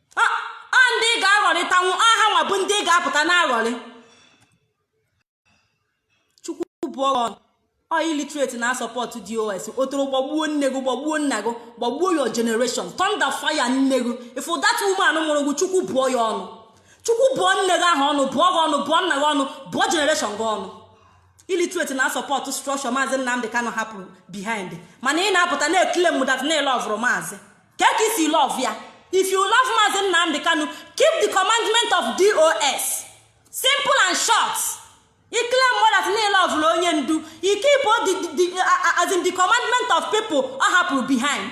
ọ ndị ị ga-aghọrịtanwu aha nwa bụ ndị ị ga-apụta na-aghọrị chukwu bụọ gị ọnụ illiterate na support dos otoro gbagbuo nne gị gbagbuo nna gị gbagbuo your generation thunder fire nne gị if that woman mụrụ gị chukwu bụọ ya ọnụ chukwu bụọ nne gị ahụ ọnụ bụọ gị ọnụ bụọ nna gị ọnụ bụọ generation gị ọnụ illiterate na support structure maazị nnamdị kanụ hapụrụ behind mana ị na-apụta na-eclaim that na ị lovụrụ maazị kee ka i si love ya if you love maazị nnamdị kanu keep the commandment of dos simple and short ị claim that na ị lovụla onye ndu ị keep as in the commandment of people ọ hapụrụ behind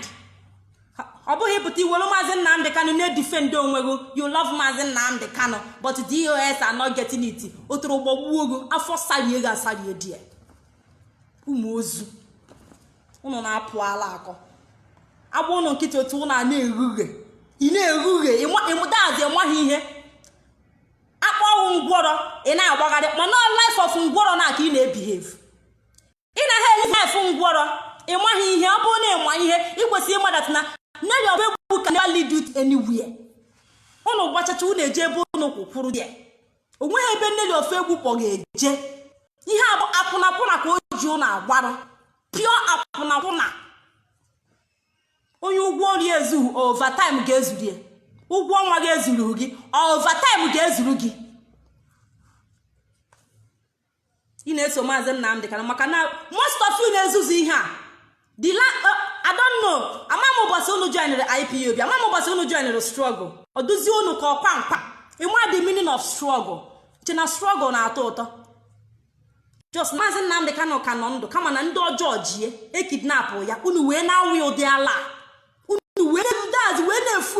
ọ bụghị ịpụta iwelu maazị nnamdị kanu na-edefend onwe gị you love maazị nnamdị kanu but dos are not getting it otoro gbagbuo gị afọ sarie gị asarie die ụmụ ozu ụnụ na-apụ ala akọ agba ụnụ nkịtị otu ụnụ a na-erughe ị na-erughe ịmụdazi ịmaghị ihe akpọ ọnwụ ngwọrọ ị na-agbagharị mana life of ngwọrọ na ka ị na-ebehave ị na ha eli life ngwọrọ ịmaghị ihe ọ bụrụ na ịma ihe ị kwesịrị ịma that na nelly ofoegbu can never lead you anywhere ụnụ gbachacha ụnụ eje ebe ụnụ kwụkwụrụ ya onweghị ebe nelly ofoegbu kpọ ga-eje ihe a bụ akwụnakwụna ka o ji unu agbarụ pure akwụnakwụna onye ụgwọ ọrụ ya ezughị overtime ga-ezuru ya ụgwọ ọnwa gị ezuru gị overtime ga-ezuru gị ị na-eso maazị nnamdi kanu maka na most of you na-ezuzu ihe a i don't know ama m ụbọsị unu joinere ipob ama m ụbọsị unu joinere struggle ọ duzie unu ka ọkwa mkpa ịma the meaning of struggle che na struggle na-atọ ụtọ just maazị nnamdi kanu ka nọ ndụ kama na ndị ọjọọ jie ekidnapụ ya unu wee na-awụ ụdị ala unu wee daz wee na-efu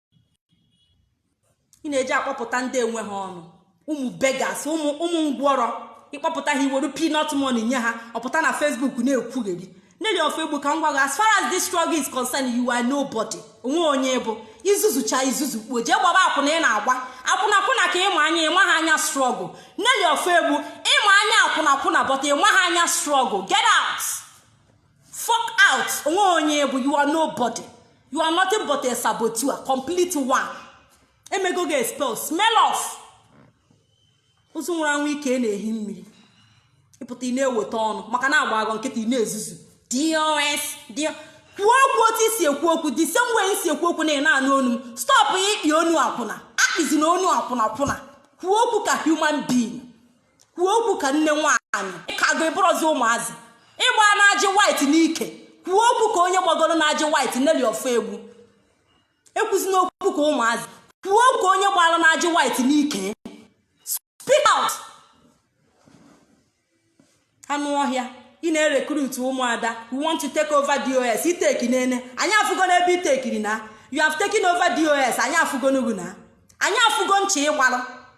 ị na-eji akpọpụta ndị enwe ha ọnụ ụmụ beggars ụmụ ụmụ ngwọrọ ịkpọpụta ha iweru peanut money nye ha ọpụta na facebook na-ekwugheri nelly ofoegbu ka m gwa gị as far as this struggle is concerned you are nobody onwe onye ị bụ izuzucha izuzu kpuo jee gbaba akwụna ị na-agba akwụna akwụna ka ịma anya ịma ha anya struggle nelly ofoegbu ịma anya akwụna akwụna but ịma ha anya struggle get out fuck out onwe onye ị bụ you are nobody you are nothing but a saboteur complete one emego gị expel smell of ozu nwụrụ anwụ ike na-ehi mmiri ịpụta ị na-eweta ọnụ maka na agba gị nkịtị ị na-ezuzu dos kwuo okwu otu isi ekwu okwu the same way isi ekwu okwu na ị na-anụ onu m stọpụ ịkpị ọnụ akwụna akpịzina ọnụ akwụna kwụna kwuo okwu ka human being kwuo okwu ka nne nwaanyị ịkago ịbụrọzi ụmụazị ịgba na ajị white n'ike kwuo okwu ka onye gbagoro na ajị white nelly ofoegbu ekwuzina okwu ka ụmụazị kwuo ka onye gbara na ajị white n'ike speak out anụ ọhịa ị na-erekrut ụmụada we want to take over dos iteki nene anyị afụgo n'ebe itekiri na you have taken over dos anyị afụgo n'ugwu na anyị afụgo ncha ịgbalụ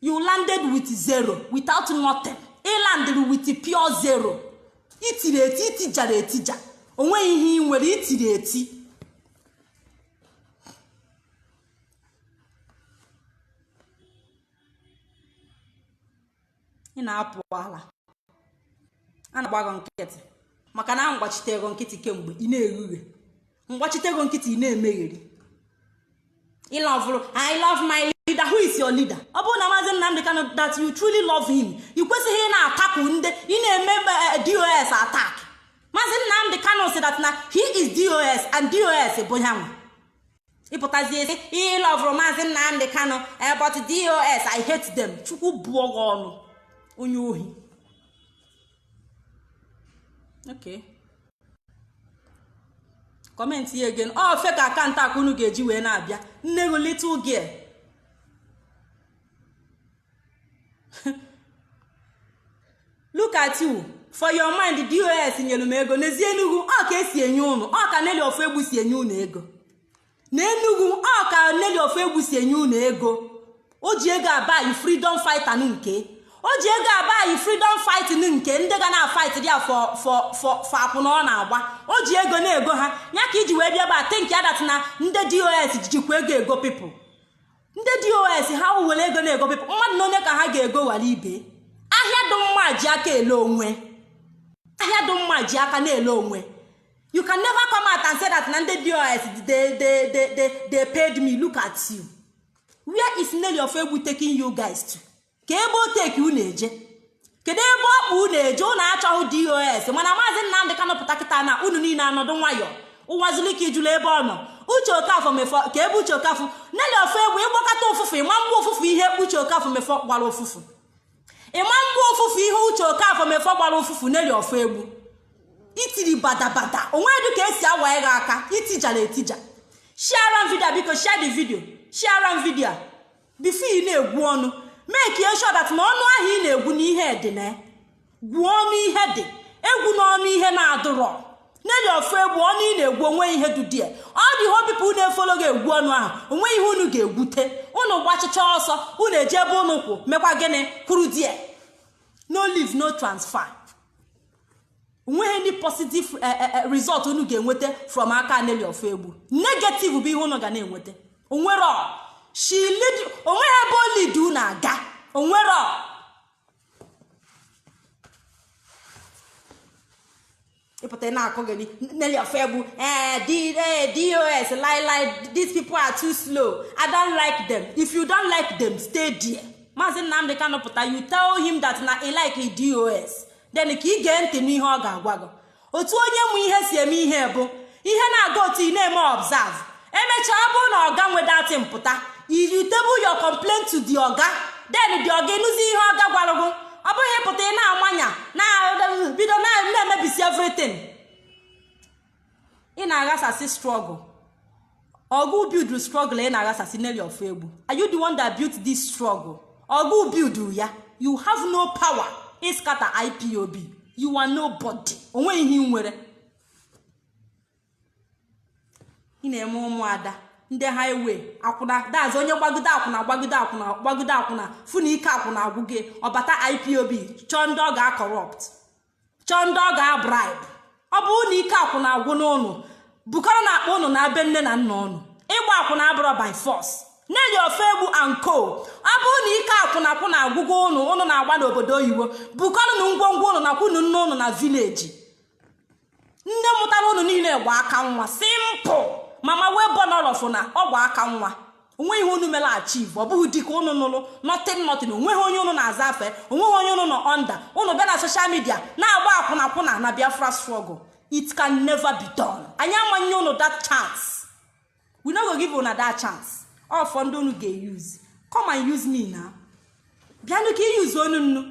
you landed with zero without nothing ịlandịrị with pure zero itiri eti itijara etija onweghị ihe ị nwere itiri eti ị na-apụ ala a na-agba gị nkịtị maka na m gbachitere gị nkịtị kemgbe ị na-ekwughe mgbachite ego nkịtị na-emegheri I love I love my leader who is your leader ọ bụrụ na maazị Nnamdi Kanu that you truly love him ị kwesịghị ị na-atakụ ndị ị na-eme eh, eh, dos attack maazị Nnamdi Kanu sị that na he is dos and dos bụ ya nwa ị pụtazie ị sị ị lọvụrụ maazị Nnamdi Kanu eh, but dos I hate them chukwu bụọ gị ọnụ onye ohi okay comment ya again ọ fake account ka unu ga-eji wee na-abịa nne gị little girl look at you for your mind dos nyere m ego n'ezie enugwu ọ ka esi enye unu ọ ka nelly ofoegbu si enye unu ego n'enugwu ọ ka nelly ofoegbu si enye unu ego o ji ego a-buy freedom fighter nke o ji ego a-buy freedom fighting nke ndị ga na-fight dị ya for akwụna ọ na-agba o ji ego na-ego ha ya ka i ji wee bịa ba think ya that na ndị dos jikwa ego ego people ndị dos ha were ego na-ego people mmadụ na onye ka ha ga-ego wara ibe ahịa dị mma ji aka ele onwe ahịa dị mma ji aka na-ele onwe you can never come out and say that na ndị dos they, they, they, they, they paid me look at you where is nelly ofoegbu taking you guys to ka ebe o take unu eje kedu ebe ọ kpụ unu eje unu achọghị dos mana maazị nnamdị kanụ pụta kịta na unu niile anọdụ nwayọ ụwazulike ị jụlụ ebe ọ nọ uche okafọ mefọ ka ebe uche okafọ nelly ofoegbu ị gbakata ụfụfụ ị ma-agba ụfụfụ ihe uche okafọ mefọ gbara ụfụfụ ị ma-agba ụfụfụ ihe uche okafọ mefọ gbara ụfụfụ nelly ofoegbu itiri badabada onwedị ka esi awa ịgha aka itijara etija sharera m video biko share the video sharera m video a before ị na-egwu ọnụ make sure that na ọnụ ahụ ị na-egwu na ihe dị ya gwuo ọnụ ihe dị egwuna ọnụ ihe na-adụrọ nelly ofoegbu ọnụ ị na-egwu o nwe ihe dụdị ya ọ dịhọ people na-efolo gị egwu ọnụ ahụ o nwe ihe unu ga-egwute unu gbachicha ọsọ unu eje ebe unu kwụ mekwa gịnị kwụrụ there no leave no transfer o nweghị any positive eh, eh, eh, result unu ga-enweta from aka nelly ofoegbu negative bụ ihe unu ga na-enweta o nwerọ o nweghị ebe o lead unu aga o nwerọ ị pụta ị na-akọgheri nelly ofoegbu ee dos lailai these people are too slow i don't like them if you don't like them stay there maazị nnamdị kanụ pụta you tell him that na i like dos then ka ị gee ntị n'ihe ọ ga-agwa gị otu onye mụ ihe si eme ihe bụ ihe na-aga otu ị na-eme observe emechaa ọ bụrụ na ọga nweta time pụta you table your complaint to the oga then the oga ịnụzi ihe ọga gwara gị ọ bụghị ịpụta ị na-awa anya na-bido na-emebisi everything ị na-aghasasị struggle ọ gụ build struggle ị na-aghasasị nelly ofoegbu are you the one that built this struggle ọ gụ build ya you have no power ịscatter ipob you are nobody onweghị ihe ị nwere ị na-eme ụmụada ndị highway akwụna that's onye gbagide akwụna gbagide akwụna gbagide akwụna fụ na ike akwụna agwụ gị ọ bata ipob chọọ ndị ọ ga-acorrupt chọọ ndị ọ ga-abribe ọ bụrụ na ike akwụna agwụna ụnụ bukọrọnụ akpa ụnụ naa be nne na nna ụnụ ịgba akwụna abụrọ by force nelly ofoegbu and co ọ bụrụ na ike akwụna akwụna agwụgo ụnụ ụnụ na-agba n'obodo oyibo bukọrọnụ ngwongwo ụnụ nakwunu nne ụnụ na village nne mụtara ụnụ niile gba aka nwa simple mama wee bọ nọrọfụ na ọ gba aka nwa onweghị ihe unu mere achieve ọ bụghị di ka ụnụ nụrụ nothing nothing onweghị onye ụnụ na-aza afa ya onweghị onye ụnụ nọ under ụnụ bịa na social media na-agba akwụna akwụna na biafra struggle it can never be done anyị ama enye ụnụ that chance we no go give una that chance ọ fọ ndị unu ga-eyuzi come and use me na bịanụ ka iyuzu onu nnu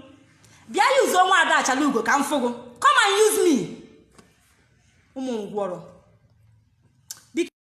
bịa yuzuo nwaada achalugo ka m fụgo come and use me ụmụ ngwọrọ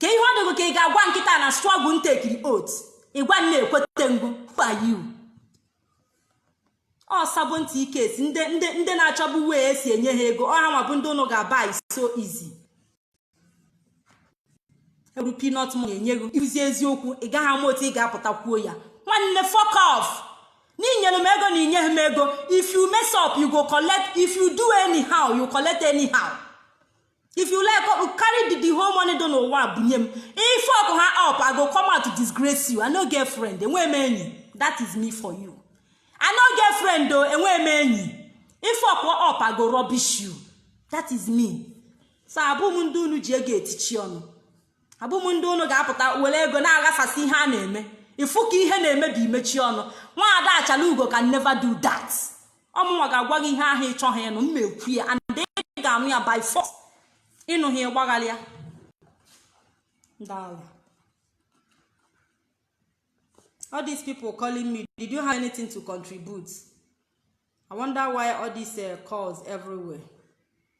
kee ihe ọ dị gị ka ị ga-agwa m kịta na struggle m tekiri oath ị gwa m m ekweta gụ who are you ọ sabo ntị ike esi ndị na-achọbụ way esi enye ha ego ọ hanwa bụ ndị ụnụ ga-abuy so easy e were peanut money nye gị izi eziokwu ị gaghị ama otu ị ga-apụta kwuo ya nwanne fuck off n'inyere m ego na inyeghị m ego if you mess up you go collect if you do anyhow you collect anyhow if you like oh, carry the, the whole money dị n'ụwa bunye m ị fuck haa up i go come out to disgrace you i no get friend enweghị m enyi that is me for you i no get friend o enweghị m enyi ị fuck up i go rubbish you that is me so abụghị m ndị unu ji ego etichi ọnụ abụghị m ndị unu ga-apụta were ego na-aghasasị ihe a na-eme ịfụ ka ihe na-emebi imechi ọnụ nwaada achalugo can never do that ọ mụnwa ga-agwa gị ihe ahụ ịchọghị ịnụ m ekwuo ya and ị ga-anụ ya by force ịnụ ha ịgbagharị ya ndị ala all these people calling me did you have anything to contribute i wonder why all these uh, calls everywhere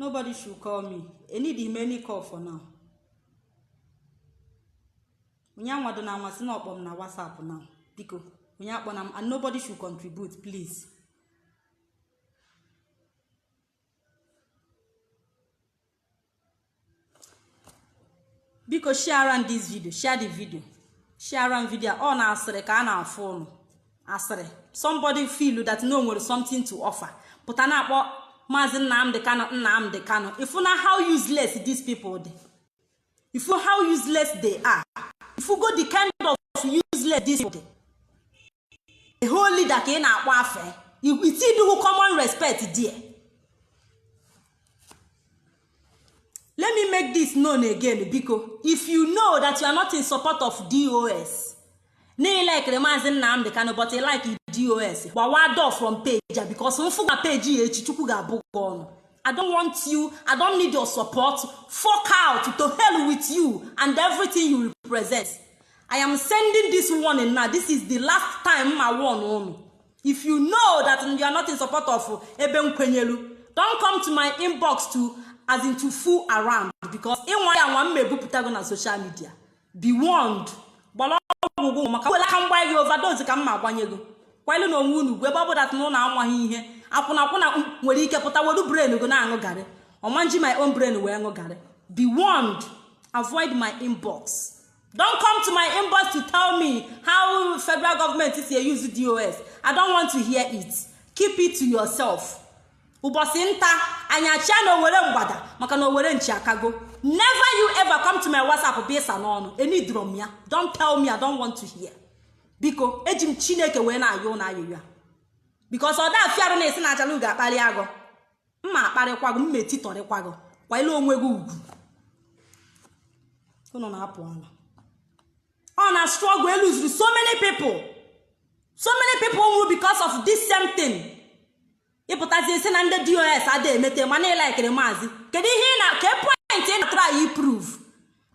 nobody should call me enidighị m any call for now onye anwadona ma sị na ọ kpọ m na whatsapp now biko onye akpọna m and nobody should contribute please biko share m this video share the video share m video ọ na asịrị ka a na-afụ ụnụ asịrị somebody feel that na o nwere something to offer pụta na-akpọ maazị nnamdi kanu nnamdi kanu ịfụna how useless these people dị ịfụ how useless they are ịfụgo the kind of useless these people dị a whole leader ka ị na-akpọ afe itiduhu common respect die let me make this known again biko if you know that you are not in support of dos na ilekere maazị nnamdị kano but like dos gbawa door from page ya bikos mfụga peji ya echi chukwu ga-abụ gị ọnụ i don't want you i don't need your support fuck out to hell with you and everything you represent i am sending this warning now this is the last time mma warn unu if you know that you are not in support of ebe m kwenyelu don't come to my inbox to as in to fool around because ị nwaa ya anwa mma ebupụta gị na social media be warned gbara ọgwụ gị maka wele aka m gba gị overdose ka mma agbanye gị kwanyelụnụ onwe unu ugwu ebe ọ bụ that na unu amaghị ihe akwụnakwụna nwere ike pụta welu brain gị na-aṅụ garị ọ ma-eji my own brain wee ṅụ garị be warned avoid my inbox don't come to my inbox to tell me how federal government si euse dos i don't want to hear it keep it to yourself ụbọsị nta anyị achụa na owere mgbada maka na owere nchi akago never you ever come to my whatsapp bịa ịsa n'ọnụ enidrọ m ya don't tell me i don't want to hear biko eji m chineke wee na-ayọ unu ayịyọ because ọ da afịa arụ na a sị na achalugo akpalịa gị mma akparịkwa gị mma etitọrịkwa gị kwanyere onwe gị ugwu unu na-apụ ala ọ na struggle eluzuru so many people so many people nwụrụ because of this same thing ị pụtazie sị na ndị dos ada emete ma na ị laịkịrị maazị kedu ihe ị na ke point ị na-atry iprove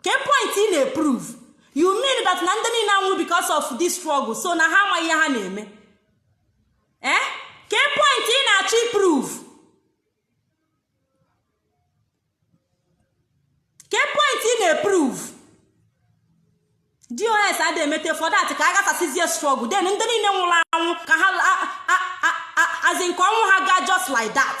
ke point ị na-eprove you mean that na ndị niile a nwụrụ because of this struggle so na ha amaghị ihe ha na-eme ee eh? ke point ị na-achọ iprove ke point ị na-eprove dos adị emete for that ka a ghasasịzie struggle then ndị niile nwụrụ anwụ ka ha as in ka ọnwụ ha gaa just like that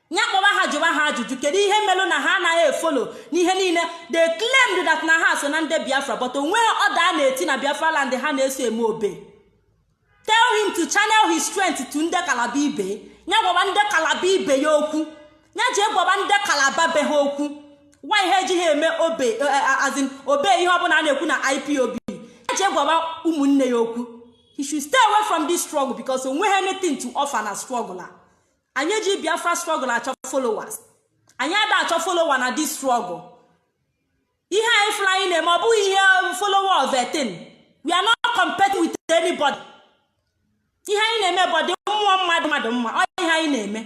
ya kpọba ha jụba ha ajụjụ kedu ihe melụ na ha anaghị efolo n'ihe niile they claimed that na ha so na ndị biafra but onweghị order a na-eti na biafra land ha na-eso eme obey tell him to channel his strength to ndị kalaba ibe ya gwaba ndị kalaba ibe ya okwu ya je gwaba ndị kalaba be ha okwu why ejighị eme obey eh, eh, as in obey ihe ọbụla a na-ekwu na ipob ya je gwaba ụmụnne ya okwu he should stay away from this struggle because onweghị anything to offer na struggle a anyị eji biafra struggle achọ followers anyị ada achọ follower na this struggle ihe anyị fụrụ anyị na-eme ọ bụghị ihe um, follower of a thing we are not competing with anybody ihe anyị na-eme bụ ọ dị mmụọ mma dị mmadụ mma ọ ihe anyị na-eme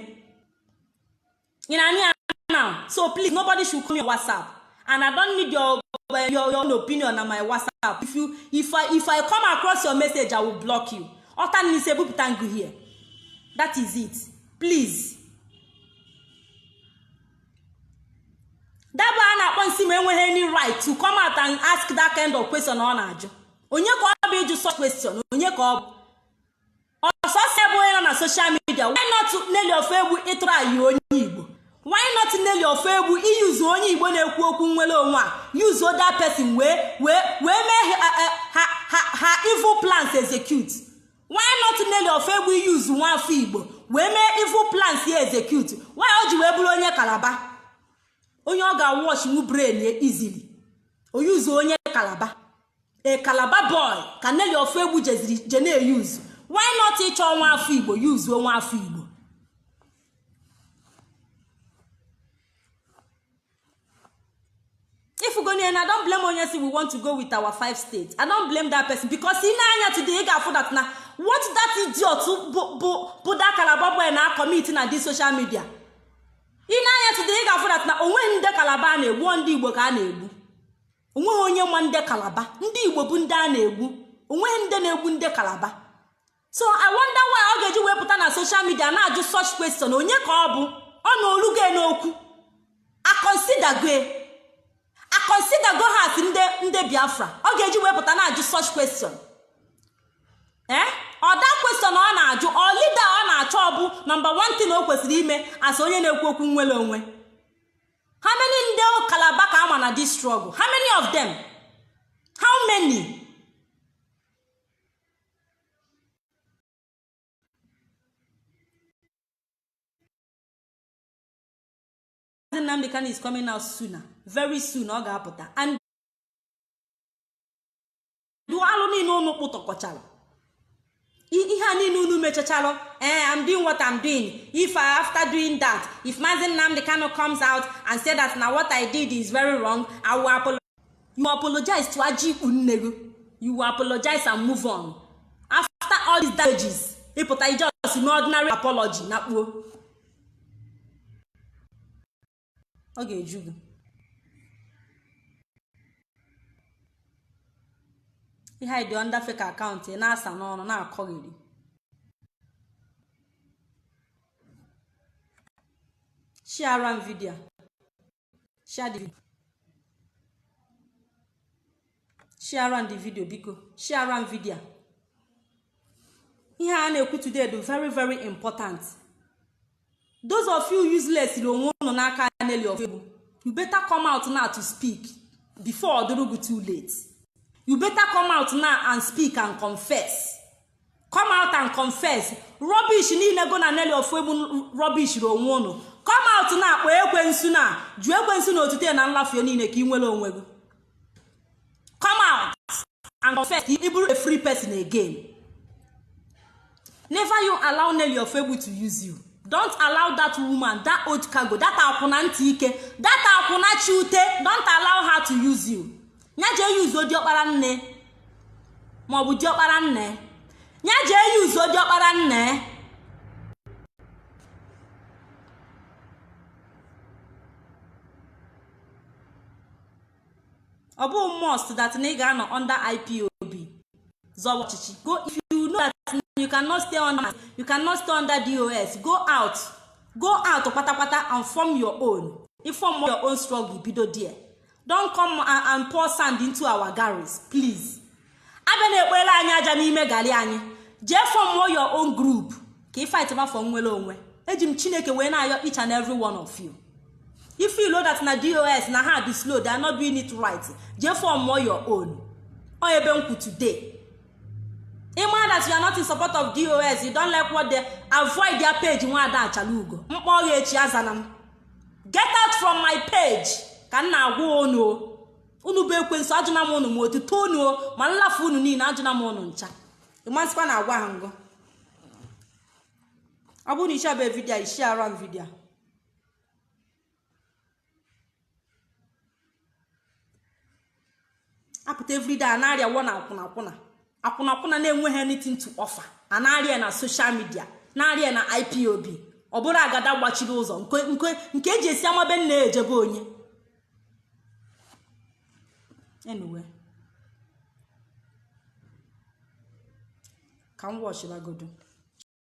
ị nee anya now so please nobody should come your whatsapp and i don't need your your, your own opinion na my whatsapp if you if i if i come across your message i will block you ọta n'isi ebupụta ngụhie that is it please that boy a na-akpọ Nsima enweghị any right to come out and ask that kind of question ọ na-ajụ onye ka ọ bụ ịjụ such question onye ka ọ bụ ọ sọsọ ya bụ onye nọ na social media why not Nelly Ofoegbu ịtrayị onye Igbo why not nelly ofoegbu iyuzu onye igbo na-ekwu okwu nnwere onwe a yuzuo that person wee wee wee mee ha eh, eh, ha evil plans execute why not nelly ofoegbu iyuzu nwa afọ igbo wee mee evil plans ya execute why o ji wee bụrụ onye kalaba onye ọ ga-awash nwu brain ya easily o yuzuo onye kalaba a calabar boy ka nelly ofoegbu jeziri je na-eyuzu why not ịchọ nwa afọ igbo yuzuo nwa afọ igbo ị fụgonụ ya and i don't blame onye sị we want to go with our five states i don't blame that person because ị nee anya today ị ga-afụ that na what that idiot bụ bụ bụ that calabar boy na commit na this social media ị nee anya today ị ga-afụ that na onweghị ndị calabar a na-egbu ọ ndị igbo ka a na-egbu onweghị onye ma ndị kalaba ndị igbo bụ ndị a na-egbu onweghị ndị na-egbu ndị kalaba so i wonder why ọ ga-eji wee pụta na social media na-ajụ such question onye ka ọ bụ ọ na olugo n'okwu akonsidago ya akonsidago ha as ndị biafra ọ ga-eji wee pụta na-ajụ such question ee eh? ọ that question ọ na-ajụ ọ leader ọ na-achọ ọ bụ number 1 thing o kwesịrị ime as onye na-ekwu okwu nnwere onwe how many ndị kalaba ka a ma na this struggle how many of them how many Nnamdi Kanu is coming out sooner very soon ọ ga-apụta and dụ alụ niile unu kpụtọkọchara ihe a niile unu mechachalụ ee eh, I'm doing what I'm doing if after doing that if Mazi Nnamdi Kanu comes out and say that na what I did is very wrong I will apologize you apologize to ajị ikpu nne gị you will apologize and move on after all these damages ị pụta ije ọsị n'ordinary apology na kpuo ọ ga-eju gị ị hide under fake account ị na-asa n'ọnụ na-akọgheri shiara m video share the video shiara m video biko shiara m video ihe a na-ekwu today dụ very very important those of you useless na onwe unu n'aka Nelly Ofoegbu you better come out now to speak before ọ dụrụ gụ too late you better come out now and speak and confess come out and confess rubbish niile gụ na Nelly Ofoegbu rubbishiri onwe unu come out now kpọọ ekwensu na jụ ekwensu na otuto ya na nlafu ya niile ka ị nwere onwe gị come out and confess ị bụrụ a free person again never you allow Nelly Ofoegbu to use you don't allow that woman that old cargo that akwụna ntị ike that akwụna chi ute don't allow her to use you ya jee yuzuo diọkpara nne maọbụ diọkpara nne ya jee yuzuo diọkpara nne ọ bụ must that na ị ga-anọ under ipob zọwa ọchịchị go if you know that you cannot stay under you cannot stay under dos go out go out kpatakpata and form your own ị form your own struggle bido there don't come and pour sand into our garri please abịana ekpolu anyị aja n'ime gali anyị jee form your own group ka ị fight ma for nwere onwe eji m chineke wee na-ayọ each and every one of you if you know that na dos na ha dị slow they are not doing it right jee form your own ọ ebe m kwụ today ị ma that you are not in support of dos you don't like what they avoid their page nwada Achalugo m kpọọ gị echi azana m get out from my page ka m na-agwa unu unu bụ ekwensu ajụna m unu ma otuto unu ma nlafu unu niile ajụna m unu ncha ị ma sịkwa na agwaha m gụ ọ bụrụ na ị shiabe video shiara m video apụta everyday a na-arịa wọ na akwụna akwụna akwụna akwụna na-enweghị anything to offer a na-arịa na social media na-arịa na ipob ọ bụrụ agada gbachiri ụzọ nke eji esi ama be nna eje be onye anyway ka m watchibagodu